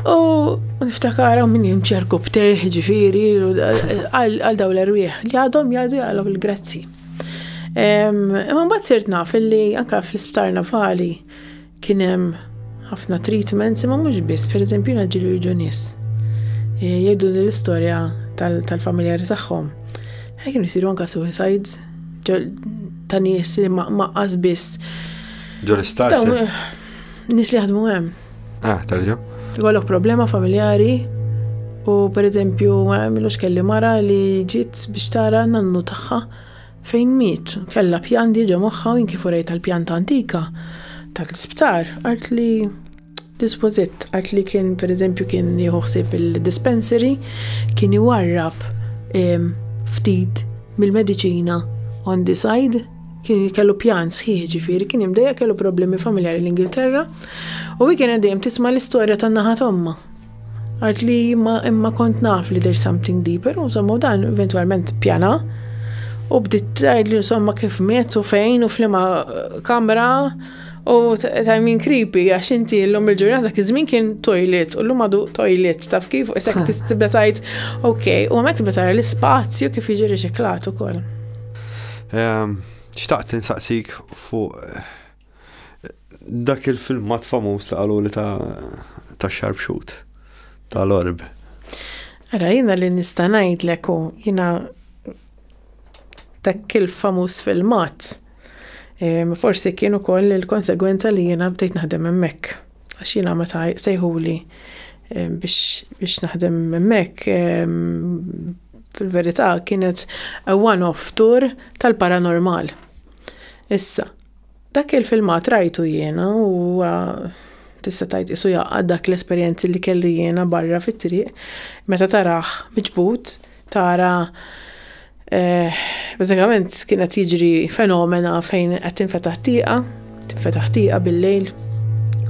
U niftakar hawn min jimxi rkub teh, ġifieri, għal dawn l-erwieħ li għadhom jgħidu jgħalhom il-grazzi. Imma mbagħad sirt naf illi anke fl-isptar navali kien hemm ħafna treatments imma mhux biss, pereżempju jiena ġieli jiġu nies. E, jgħidu l-istorja tal-familjari tagħhom. Ħaj kienu jsiru anke suicides ta' nies li ma' biss. Ġol-isptar. Nis li jaħdmu hemm. Ah, terġa. Ikollok problema familjari u per eżempju għamilux kelli mara li ġiet biex tara nannu tagħha fejn miet. Kella pjan diġa moħħa u kif urejt tal-pjan ta' antika ta' l-isptar. Għart li dispożit, għart li kien per eżempju kien jħuħsib il-dispensary, kien iwarrab ftit mill-medicina on the side kien kellu pjan sħiħ ġifiri, kien imdejja kellu problemi familjari l-Ingilterra u hi kienet dejjem tisma' l-istorja tan-naħa tomma. Għart li ma imma kont naf li there's something deeper, u somma dan eventualment pjana. U bdiet tgħid li somma kif miet u fejn u flima eh, kamra u tajmin creepy għax inti l-lum il-ġurnata kif żmien kien toilet u l-lum għadu toilet taf kif u isek tibda tajt ok u għamek tibda tara l-ispazju kif jiġi riċiklat ukoll. Ehm, xtaqt insaqsik fuq eh, dak il-filmat famuż li qalu li ta' ta' sharpshoot tal-orb. Ara, jina li nista' ngħidlek u jina dak il-famuż filmat. Forsi kienu koll il-konsegwenza li jina bdejt naħdem hemmhekk. Għax jiena meta sejħuli biex naħdem hemmhekk fil-verità kienet a one-off tour tal-paranormal. Issa, dak il-filmat rajtu jiena u tista' tgħid isu jaqgħad dak l-esperjenzi li kelli jiena barra fit-triq meta taraħ miġbud tara eh, bażikament kien qed jiġri fenomena fejn qed tinfetaħ tieqa, tinfetaħ tieqa bil-lejl.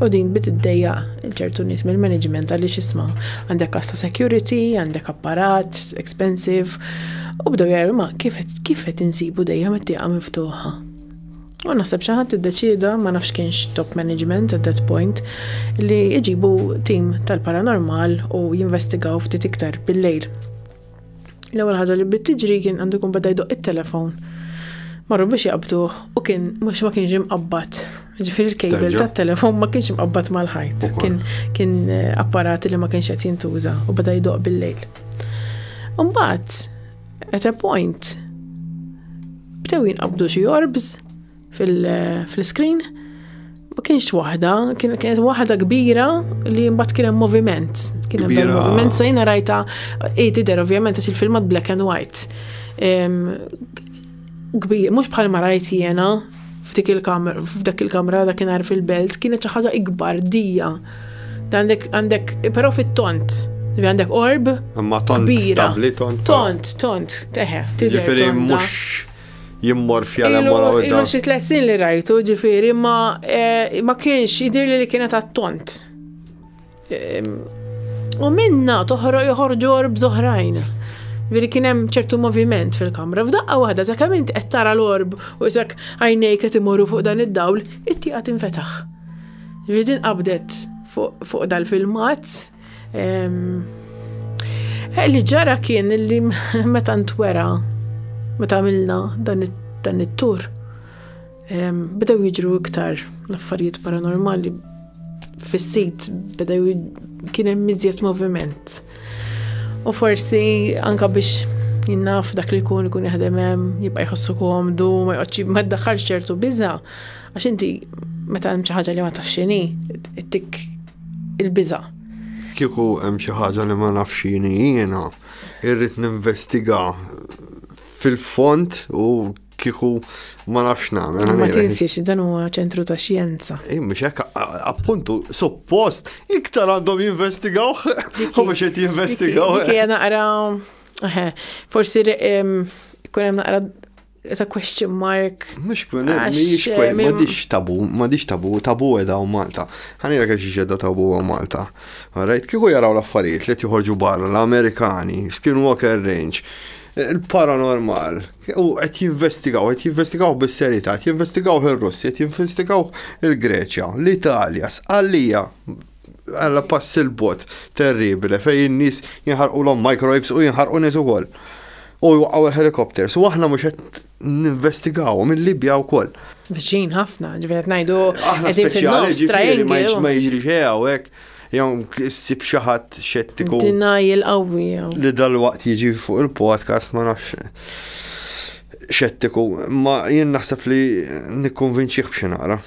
U din bit id-dejja il-ċertu nies mill-management għalli xisma għandek kasta security, għandek apparat, expensive, u bdew jgħidu ma kif qed insibu dejjem it-tieqa miftuħa. U naħseb xi ħadd iddeċieda ma nafx kienx top management at that point li jġibu tim tal-paranormal u jinvestigaw ftit iktar bil-lejl. L-ewwel ħaġa li bdiet tiġri kien għandu jkun beda jdoq it-telefon. Marru biex jaqbduh u kien mhux ma kienx imqabbad. Ġifieri l-kejbel tat-telefon ma kienx imqabbad mal-ħajt. Kien kien eh, apparati li ma kienx qed jintuża u beda jdoq bil-lejl. Umbagħad At a point, bdew jinqabdu xi orbs fil-screen, ma kienx waħda, kienet waħda kbira li mbagħad kien hemm moviment. Kien hemm moviment se jiena rajta i tidher ovvjament għax il-filmat black and white. kbir, mhux bħal ma rajt jiena f'dik il-kamra, f'dak il-kamra dakinhar fil-belt, kienet xi ħaġa ikbar dija. Għandek, għandek, però fit-tont, li għandek orb. Imma tont stabli, tont. Tont, tont, teħe. Ġifieri mhux jimmor fjala mola u Ilu xi tliet sin li rajtu, ġifieri ma eh, ma kienx idir li kienet għat-tont. U minna toħro joħorġu orbs oħrajn. Veri kien hemm ċertu moviment fil-kamra. F'daqqa waħda sa kemm int qed tara l-orb u isak għajnejk qed imorru fuq dan id-dawl, it-tieqa tinfetaħ. Veri din qabdet fuq dal-filmat. Eh, li ġara kien li meta ntwera, meta għamilna dan it-tur, Bdew jiġru iktar l-affarijiet paranormali fis-sit bdew kien hemm miżjed moviment. U forsi anka biex jinnaf dak li jkun ikun jaħdem hemm, jibqa' jħossu komdu, ma jqgħodx ma ddaħħalx ċertu biża' għax inti meta hemm xi ħaġa li ma tafx x'inhi, tik il-biża'. Kieku hemm xi ħaġa li ma nafx x'inhi jiena, irrid ninvestiga fil-fond u kiku ma nafx nagħmel. Ma tinsiex dan huwa ċentru ta' xjenza. Ej, mhux hekk appuntu suppost iktar għandhom jinvestigaw u biex qed jinvestigaw. Kija naqra forsi kun hemm naqra It's a question mark. Mux kun, mux kun, ma diċ tabu, ma diċ tabu, tabu edha u Malta. Għanira kax ġedda tabu u Malta. Rajt, kiku jaraw l-affarijiet li tiħorġu barra, l-Amerikani, Skinwalker Range, il-paranormal, U qed jinvestigaw, qed jinvestigaw bis-serjetà, qed jinvestigaw ir-Russi, qed jinvestigaw il-Greċja, l-Italja, sqallija għalla pass il-bot terribile fej in-nies jinħarqu l microwaves u jinħarqu nies ukoll. U jwaqgħu l-helikopters u aħna mhux qed ninvestigaw mill-Libja wkoll. Viċin ħafna, ġifieri qed ngħidu qegħdin fin-nofs triangle. Ma jiġri xejn hawnhekk. Jew ssib xi ħadd xettiku. Denial qawwi jew. Li dalwaqt jiġi fuq il-podcast ma nafx xettiku, ma jien naħseb li nikkonvinċih b'xi naqra.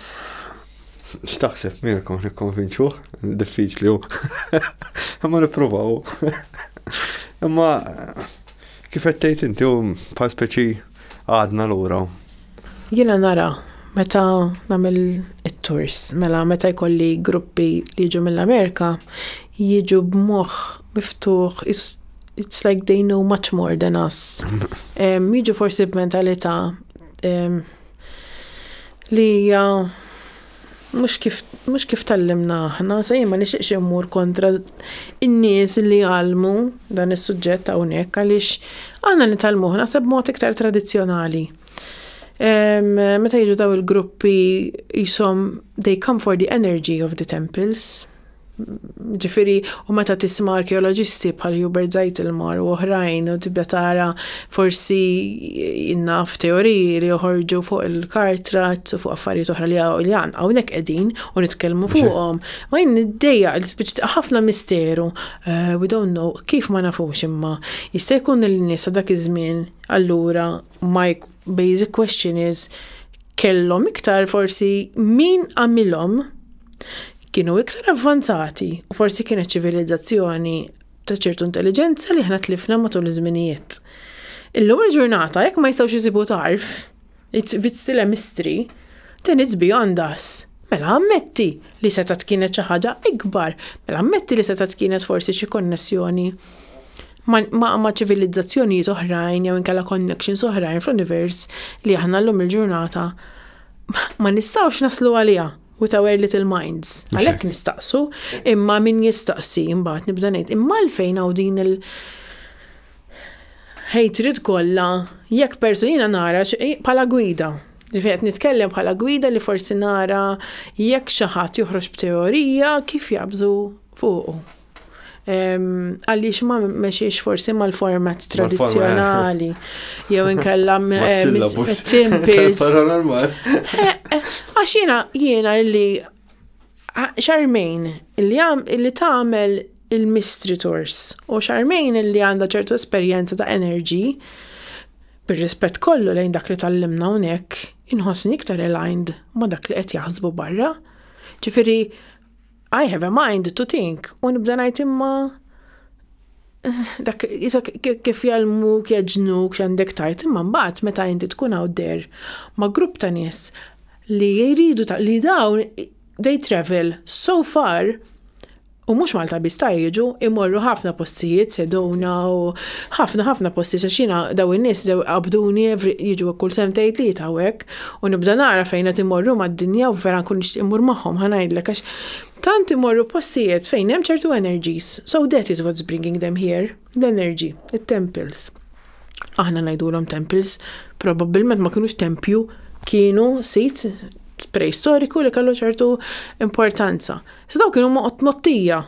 X'taħseb Mirko nikkonvinċuh? Diffiċli hu. Imma nippruvaw. Imma kif qed tgħid inti hu bħal speċi għadna lura. Jiena nara meta nagħmel it-tours, mela meta jkolli gruppi li jiġu mill-Amerika, jiġu b'moħħ miftuħ, it's like they know much more than us. Jiġu forsi b'mentalità li hija Mhux kif mhux kif tgħallimna aħna, sa jien ma nixtieqx immur kontra n-nies li jgħallmu dan is-suġġett hawnhekk għaliex aħna nitgħallmuh naħseb mod iktar tradizzjonali. Meta jiġu daw il-gruppi jisom they come for the energy of the temples. Ġifiri, u meta tisma' arkeoloġisti bħal Hubert Zeitelmar u oħrajn u tibda tara forsi innaf teoriji li joħorġu fuq il-kartrat u fuq affarijiet oħra li għan hawnhekk qegħdin u nitkellmu fuqhom. Ma jien niddejja l-spiċ ħafna misteru. Eh, we don't know kif ma nafux imma jista' jkun il-nies dak iż-żmien allura ma basic question is kellhom iktar forsi min għamilhom kienu iktar avvanzati u forsi kienet ċivilizzazzjoni ta' ċertu intelligenza li ħna tlifna matul iż-żminijiet. Illum il-ġurnata jekk ma jistgħux jisibu tarf, it's, it's still a mystery, then it's beyond us. Mela ammetti li setat kienet xi ħaġa ikbar, mela ammetti li setat kienet forsi xi konnessjoni ma' ċivilizzazzjonijiet oħrajn jew inkella connections oħrajn fl-univers li aħna llum il-ġurnata ma nistgħux naslu għaliha with our little minds. Għalhekk nistaqsu, imma min jistaqsi imbagħad nibda ngħid imma għalfejn hawn din il- hatred kollha jekk persuna nara bħala gwida. Ġifieri nitkellem bħala gwida li forsi nara jekk xi ħadd joħroġ b'teorija kif jabżu fuqu. għaliex ma meċiex forsi mal-format tradizjonali, jew inkella timpis. Għax jena, jena illi xarmejn illi għam illi tagħmel il-mystery tours u xarmejn illi għandha ċertu esperjenza ta' energy bir-rispett kollu lejn dak li tallimna hawnhekk inħossni iktar aligned ma' dak li qed jaħsbu barra. Ġifieri I have a mind to think u nibda ngħid imma dak kif jalmu kieġnu x'għandek tajt imma mbagħad meta inti tkun hawn der ma' grupp ta' nies li jridu ta' li dawn they travel so far u mhux Malta biss ta' jiġu imorru ħafna postijiet sedona u ħafna ħafna postijiet għax jiena daw in-nies qabduni jiġu kull sentejn tlieta hawnhekk. U nibda nara fejn qed imorru mad-dinja u vera nkun nixtieq immur magħhom ħa ngħidlek għax tant imorru postijiet fejn hemm ċertu energies. So that is what's bringing them here, l-energy, it-temples. Aħna ngħidulhom temples, probabbilment ma kinux tempju, kienu sit preistoriku li kellu ċertu importanza. So daw kienu mottija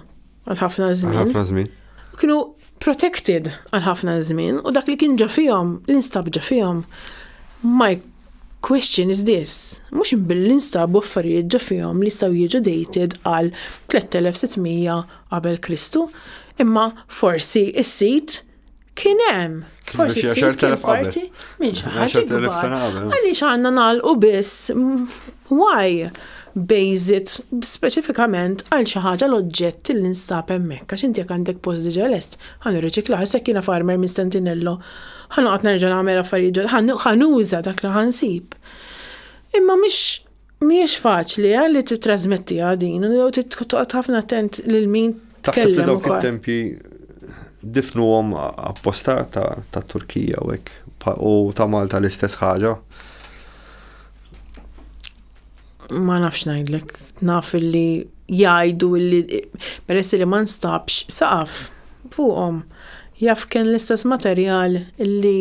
għal ħafna żmien. Għal ħafna żmien. Kienu protected għal ħafna żmien u dak li kien ġa fihom, l-instab ġa fihom. My question is this, mhux billi instab affarijiet ġa fihom li jistgħu jiġu dated għal 3600 qabel Kristu, imma forsi is-sit Kien hemm, forsi s-sis kien parti minn xi ħaġa ikbar. Għaliex għandna nagħlqu biss why bejżit speċifikament għal xi ħaġa l-oġġett li nstab hemmhekk għax inti jekk għandek post diġà lest ħa nirriċikla ħassek jiena farmer minn Stentinello ħa noqgħod nerġa' nagħmel affarijiet ħa nuża dak li ħansib. Imma mhix Mhijiex faċli eh li tittrasmettiha din, jew toqgħod ħafna attent lil min Taħseb li dawk it-tempji difnuhom apposta ta' Turkija u hekk u ta' Malta l-istess ħaġa? Ma nafx ngħidlek, naf li jgħidu li peress li ma nstabx saqaf fuqhom jaf kien l-istess materjal li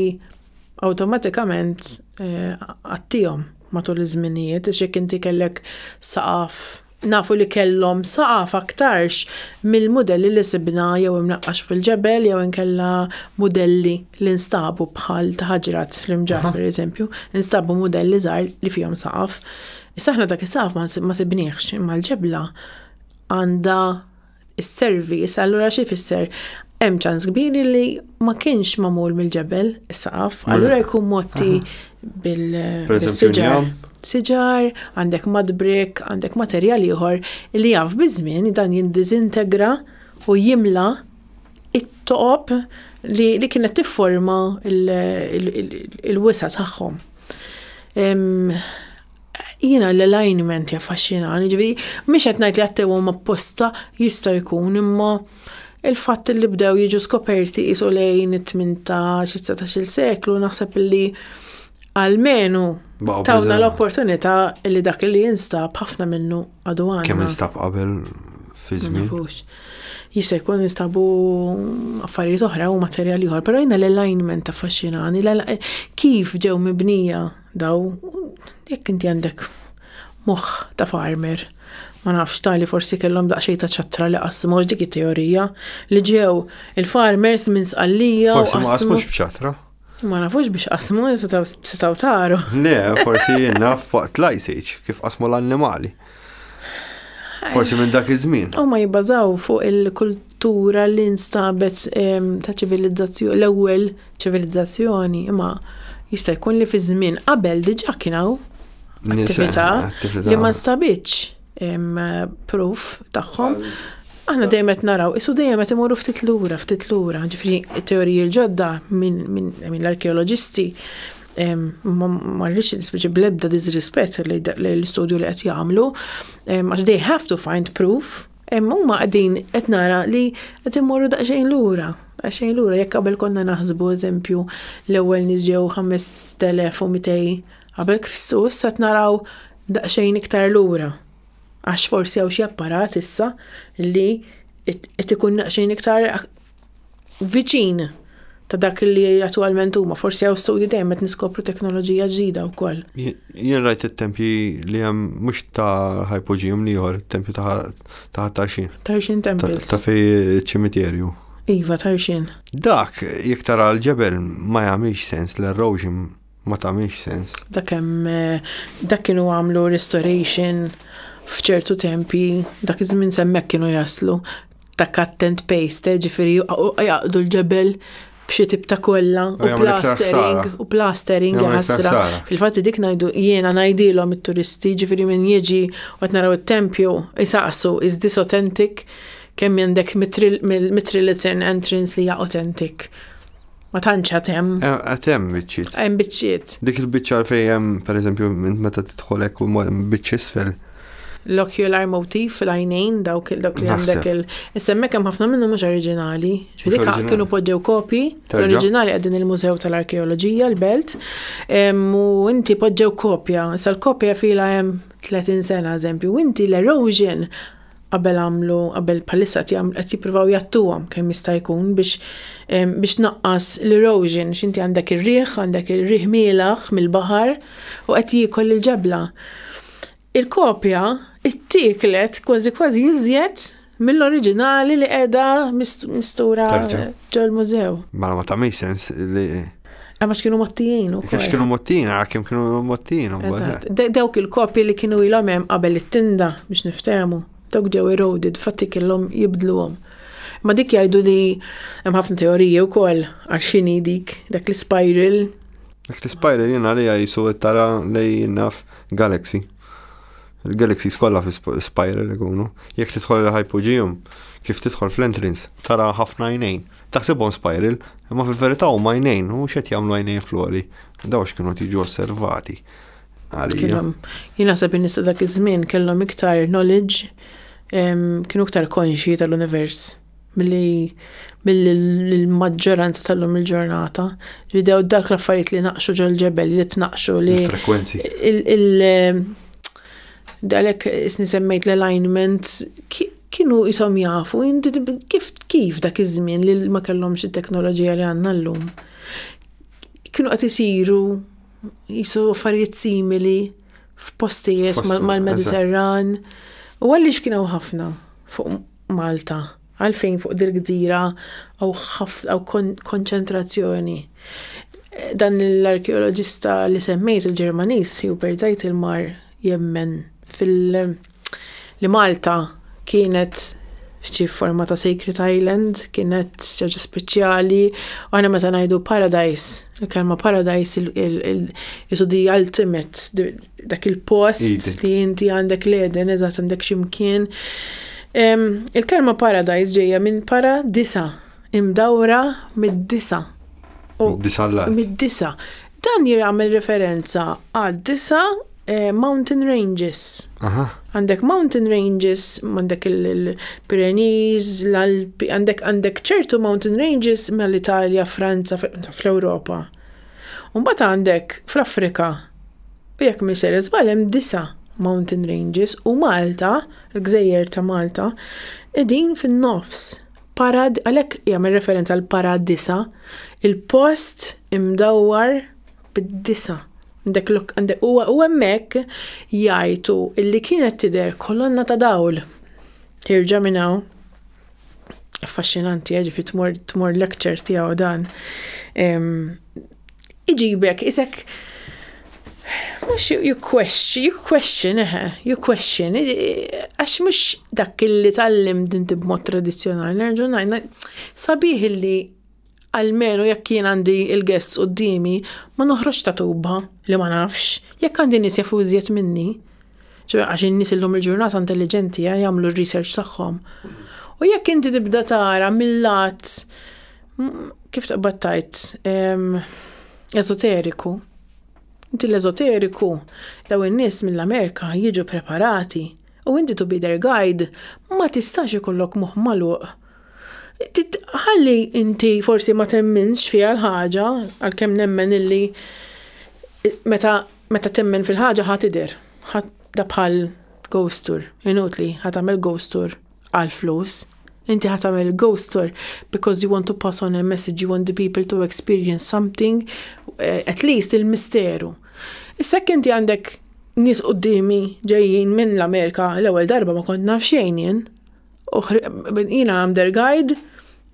awtomatikament eh, għattihom. matul iż-żminijiet għax jekk inti kellek saqaf nafu li kellhom saqaf aktarx mill-mudelli li sibna jew imnaqqax fil-ġebel jew inkella mudelli li nstabu bħal ta' ħaġrat fl-imġar pereżempju, nstabu mudelli żgħar li fihom saqaf. Issa aħna dak is-saqaf ma sibniex imma l-ġebla għandha is-service, allura xi fisser hemm ċans kbir li ma kienx magħmul mill-ġebel is-saqaf, allura jkun motti bil-siġar. Siġar, għandek madbrik, għandek materjal ieħor li jaf biż-żmien dan jindiżintegra u jimla it-toqob li, li kienet tifforma il-wisa tagħhom. Jiena l-alignment jaffaxxinani, ġifieri mhix qed ngħid li għattewhom apposta jista' jkun imma il-fatt li bdew jiġu skoperti qisu lejn it-18 it-19 seklu naħseb li għalmenu tawna l-opportunità li dak li jinstab ħafna minnu għadu għandna. Kemm instab qabel fi żmien? Jista' jkun instabu affarijiet oħra u materjali oħra, però jiena l-alignment affaxxinani, kif ġew mibnija Daw, jekk inti għandek moħħ ta' farmer, ma nafx tali forsi kellhom daqsxejn ta' ċattra li qasmu dik it-teorija li ġew il-farmers minn sqallija. Forsi ma qasmux b'ċattra. Ma nafux biex qasmu, setaw taru. Le, forsi jenna fuq tlajsiċ, kif qasmu l-annimali. Forsi minn dak iż-żmien. U ma jibbażaw fuq tura li nstabet ta' ċivilizzazzjoni l-ewwel ċivilizzazzjoni, imma jista' jkun li fi żmien qabel diġà kien hawn attività li ma nstabitx proof tagħhom. Aħna dejjem qed naraw, isu dejjem qed imorru ftit lura, ftit lura, ġifri teoriji l-ġodda minn l-arkeoloġisti ma rridx nisbiġi bl-ebda disrispett l-istudju li qed jagħmlu, għax they have to find proof Hemm huma qegħdin qed nara li qed immorru daqsxejn lura. Daqsxejn lura jekk qabel konna naħsbu eżempju l-ewwel nies ġew 5200 qabel Kristu issa qed naraw daqsxejn iktar lura. Għax forsi hawn xi apparat issa li qed ikun daqsxejn iktar viċin ta' dak li attualment huma, forsi hawn studji dejjem qed niskopru teknoloġija ġdida wkoll. Jien rajt it-tempji li hemm mhux ta' ħajpoġijum li jor, tempju ta' tarxin. Tarxin temples. Ta' fej ċimiterju. Iva, tarxin. Dak, jekk tara l-ġebel ma jagħmilx sens l-erosion ma tagħmilx sens. Dak hemm dak kienu għamlu restoration f'ċertu tempi, dak iż-żmien semmek kienu jaslu ta' cut and paste, ġifieri jaqdu l-ġebel b'xi tip ta' kollha u plastering u plastering jasra. Fil-fatt dik ngħidu jiena ngħidilhom it-turisti ġifieri min jiġi qed naraw it-tempju isaqsu is this authentic kemm għandek mitrilitin entrance li hija authentic. Ma tantx għad hemm. Eh, għad hemm biċċiet. Hemm biċċiet. Dik il-biċċa fejn hemm, pereżempju, meta tidħol hekk u biċċ isfel. L-ocular motif fil-għajnejn dawk dawk li għandek il. Issemmek hemm ħafna minnhom mhux oriġinali. Ġifieri kienu poġġew kopji oriġinali qegħdin il-Mużew tal-Arkeoloġija l-Belt u inti poġġew kopja. Sal-kopja fila hemm 30 sena eżempju, inti l-erosion qabel għamlu, qabel palissa qed jippruvaw jattuhom kemm jista' jkun biex biex naqqas l-erosion, x'inti għandek ir-riħ, għandek ir-riħ mielaħ mill-baħar u qed jiekol il-ġebla. Il-kopja ittieklet kważi kważi iżjed mill-oriġinali li qiegħda mistura ġol-mużew. Ma ma ta' sens li Għax kienu mottijin u kol. Għax kienu mottijin, għara kem kienu mottijin. Dawk il-kopi li kienu il hemm qabel it-tinda biex niftemu. Dawk ġew eroded, fatti kellhom jibdluhom. Ma dik jgħidu li hemm ħafna teoriji wkoll għal xini dik dak l-spiral. Dak l-spiral jiena li għajsu tara li naf galaxy. Il-galaxy skolla fi spiral ikunu. Jekk tidħol il-hypogeum, kif tidħol fl-entrance, tara ħafna jnejn. Taħsibhom spiral, imma fil-verità huma għajnejn, u x'qed jagħmlu għajnejn flori. Daw x'kienu tiġu osservati. Għalija. Jien naħseb in-nies dak iż-żmien kellhom iktar knowledge, kienu iktar konxji tal-univers milli mill-maġġoranza tal-lum il-ġurnata li dew dak l-affarijiet li naqxu ġol ġebel li tnaqxu li. Frekwenzi. Dalek isni semmejt l-alignment kienu jisom jafu, kif, kif dak iż-żmien li ma kellhomx it-teknoloġija li għandna llum. Kienu qed isiru jisu affarijiet simili f'postijiet mal-Mediterran. U għaliex kienu ħafna fuq Malta. Għalfejn fuq dil-gżira hawn ħafna hawn kon- konċentrazzjoni? Dan l-arkeoloġista li semmejt il-Ġermaniż Hubert Zeitelmar jemmen fil- li Malta kienet f'xi forma ta' sacred island, kienet xi ħaġa speċjali, u aħna meta ngħidu paradise, il-kelma paradise il- il- il- jisu the ultimate, dak il-post li inti għandek l-eden, eżatt għandek ximkien. Il-kelma paradise ġejja minn para disa, imdawra mid-disa. Mid-disa l-lat. Mid-disa. Dan jirgħamil referenza għad disa eh, mountain ranges. Għandek mountain ranges, għandek il-Pyrenees, l-Alpi, għandek ċertu mountain ranges mill-Italja, Franza, fl-Europa. Umbat għandek fl-Afrika U jekk minn ser iżbal hemm disa' mountain ranges u Malta, l-gżejjer ta' Malta, qegħdin fin-nofs. Parad, għalhekk jagħmel referenza għal paradisa, il-post imdawwar bid-disa. Għandek lok għandek huwa u hemmhekk jgħidu illi kienet tidher kolonna ta' dawl. Irġa' minn hawn. Affaxxinanti, eh, ġifi tmur tmur lecture tiegħu dan. iġibek isek mhux you question, you question, eħe, you question, għax mhux dak li tallim dinti b'mod tradizzjonali, nerġa' ngħid, sabiħ li għalmenu jekk jien għandi il-guests qudiemi, ma noħroġ ta' tuba li ma nafx, jekk għandi nies jafu iżjed minni. ċoħe għax in-nies illum il-ġurnata intelligenti eh, jagħmlu r-research tagħhom. U jekk inti tibda tara mill-lat Kif taqbad tajt? Eżoteriku. Inti l-eżoteriku, daw in-nies mill-Amerika jiġu preparati u inti to be their guide ma tistax ikollok moħħ magħluq. Ħalli inti forsi ma temminx fiha l-ħaġa għalkemm nemmen illi meta meta temmen fil-ħaġa ħa tidher. Da bħal ghost tour, inutli ħa tagħmel ghost tour. għal flus. Inti ħat tagħmel il-ghost tour because you want to pass on a message, you want the people to experience something, eh, at least il-misteru. Issa inti għandek nis qoddimi ġejjin minn l-Amerika l-ewwel darba ma kont naf xejn jien. Jiena għam der guide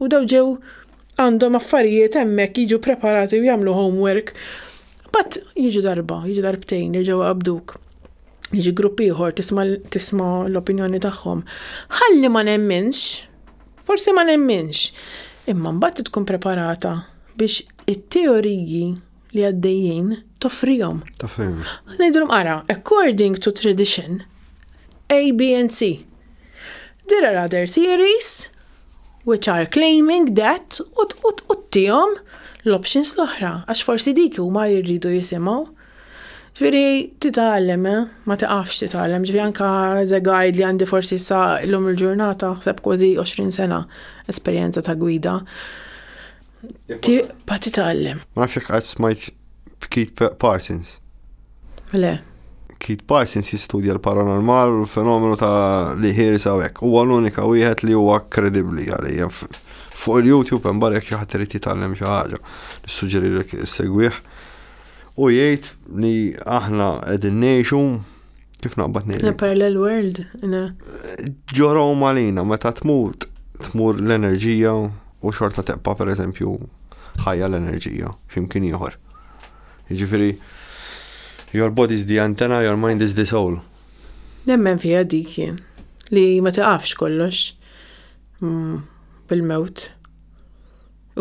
u daw ġew għandhom affarijiet hemmhekk jiġu preparati u jagħmlu homework. Bat jiġu darba, jiġu darbtejn, jiġu għabduk. jiġi grupp ieħor tisma' l-opinjoni tagħhom. Ħalli ma nemminx, forsi ma nemminx, imma mbagħad tkun preparata biex it-teoriji li għaddejjin toffrihom. Toffrihom. Ngħidulhom ara, according to tradition, A, B and C. There are other theories which are claiming that u t-tijom l-options l-oħra, għax forsi dik huma jirridu jisimgħu. Ġviri, titgħallem, eh? Ma tiqafx titgħallem. Ġviri, anka ze guide li għandi forsi sa l-lum il-ġurnata, xseb kważi 20 sena esperjenza ta' gwida. Ti pa titgħallem. Ma nafx jekk qatt smajt b'Keith Parsons. Le. Keith Parsons jistudja l-paranormal u l-fenomenu ta' li ħirs hawnhekk. Huwa l-unika wieħed li huwa kredibbli għalija. Fuq il-YouTube hemm barek xi ħadd irid jitgħallem xi ħaġa. Nissuġġerilek segwih. U jgħid li aħna qegħdin ngħixu kif naqbad ngħid. Parallel world. Ġoraw malina meta tmut tmur l-enerġija u xorta teqpa per eżempju ħajja l-enerġija x'imkien ieħor. Jiġifieri your body is the antenna, your mind is the soul. Nemmen fija dik li ma tiqafx kollox mm, bil-mewt.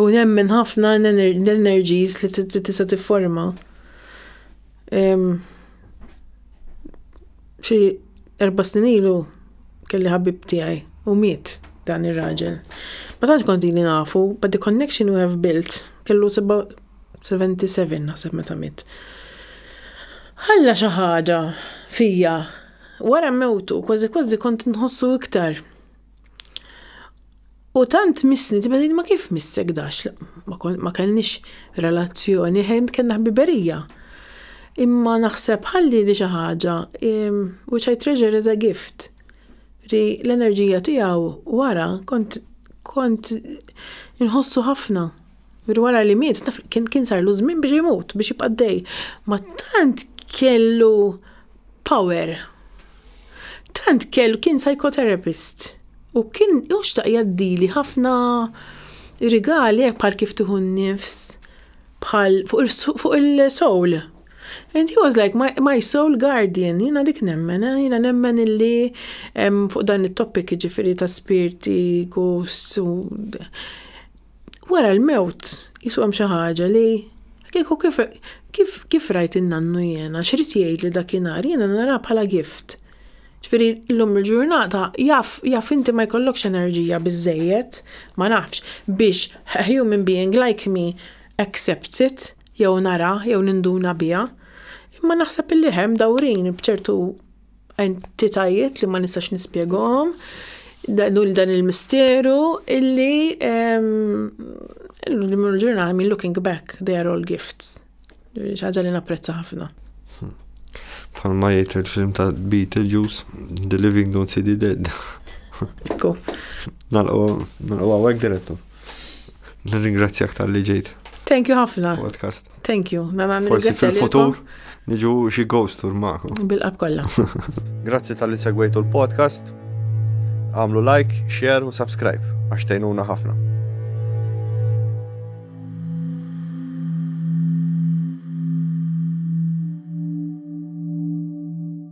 U nemmen ħafna l-energies li tista' tifforma. Xi erba' snin ilu kelli ħabib tiegħi u miet dan ir-raġel. Ma tantx kont ili nafu, but the connection we have built kellu 77 naħseb meta miet. Ħalla xi ħaġa fija. Wara mewtu kważi kważi kont inħossu iktar. U tant misni, tibedin ma kif missek dax, ma kellix relazzjoni, ħend kena ħbiberija. Imma naħseb ħalli li xi ħaġa, which I treasure as a gift, li l-enerġija tiegħu wara kont kont inħossu ħafna. Minn wara li miet, taf kien kien sarlu żmien biex imut, biex jibqa' dej. Ma tant kellu power. Tant kellu kien psychotherapist. U kien joxtaq jaddili ħafna rigali hekk bħal kif tieħu n-nifs bħal fuq il-soul. And he was like my, my soul guardian, jina dik nemmen, eh? jina nemmen illi fuq dan il-topic ġifiri ta' spirti, ghosts, u Wara l-mewt, jisu hemm xi ħaġa li kieku kif kif kif rajt in-nannu jiena, x'rid jgħid li dakinhar jiena nara bħala gift. Ġifieri llum il-ġurnata jaf jaf inti ma jkollokx enerġija biżżejjed, ma nafx, biex a human being like me accepts it, jew nara, jew ninduna biha. Imma naħseb illi hemm dawrin b'ċertu entitajiet li ma nistax nispjegahom dan dan il-misteru illi l-ġurnal I mean looking back they are all gifts. ċaġa li napprezza ħafna. Palma jgħid il-film ta' Beetlejuice, The Living Don't See the Dead. Ekku. Nalqu għawek direttu. Nirringrazzjak tal-li ġejt. Thank you ħafna. Podcast. Thank you. Nana Forsi fil-futur niġu xi ghost tour ma'kom. Bil-qab kollha. Grazzi tal-li segwejtu l-podcast. Għamlu like, share u subscribe għax tgħinuna ħafna.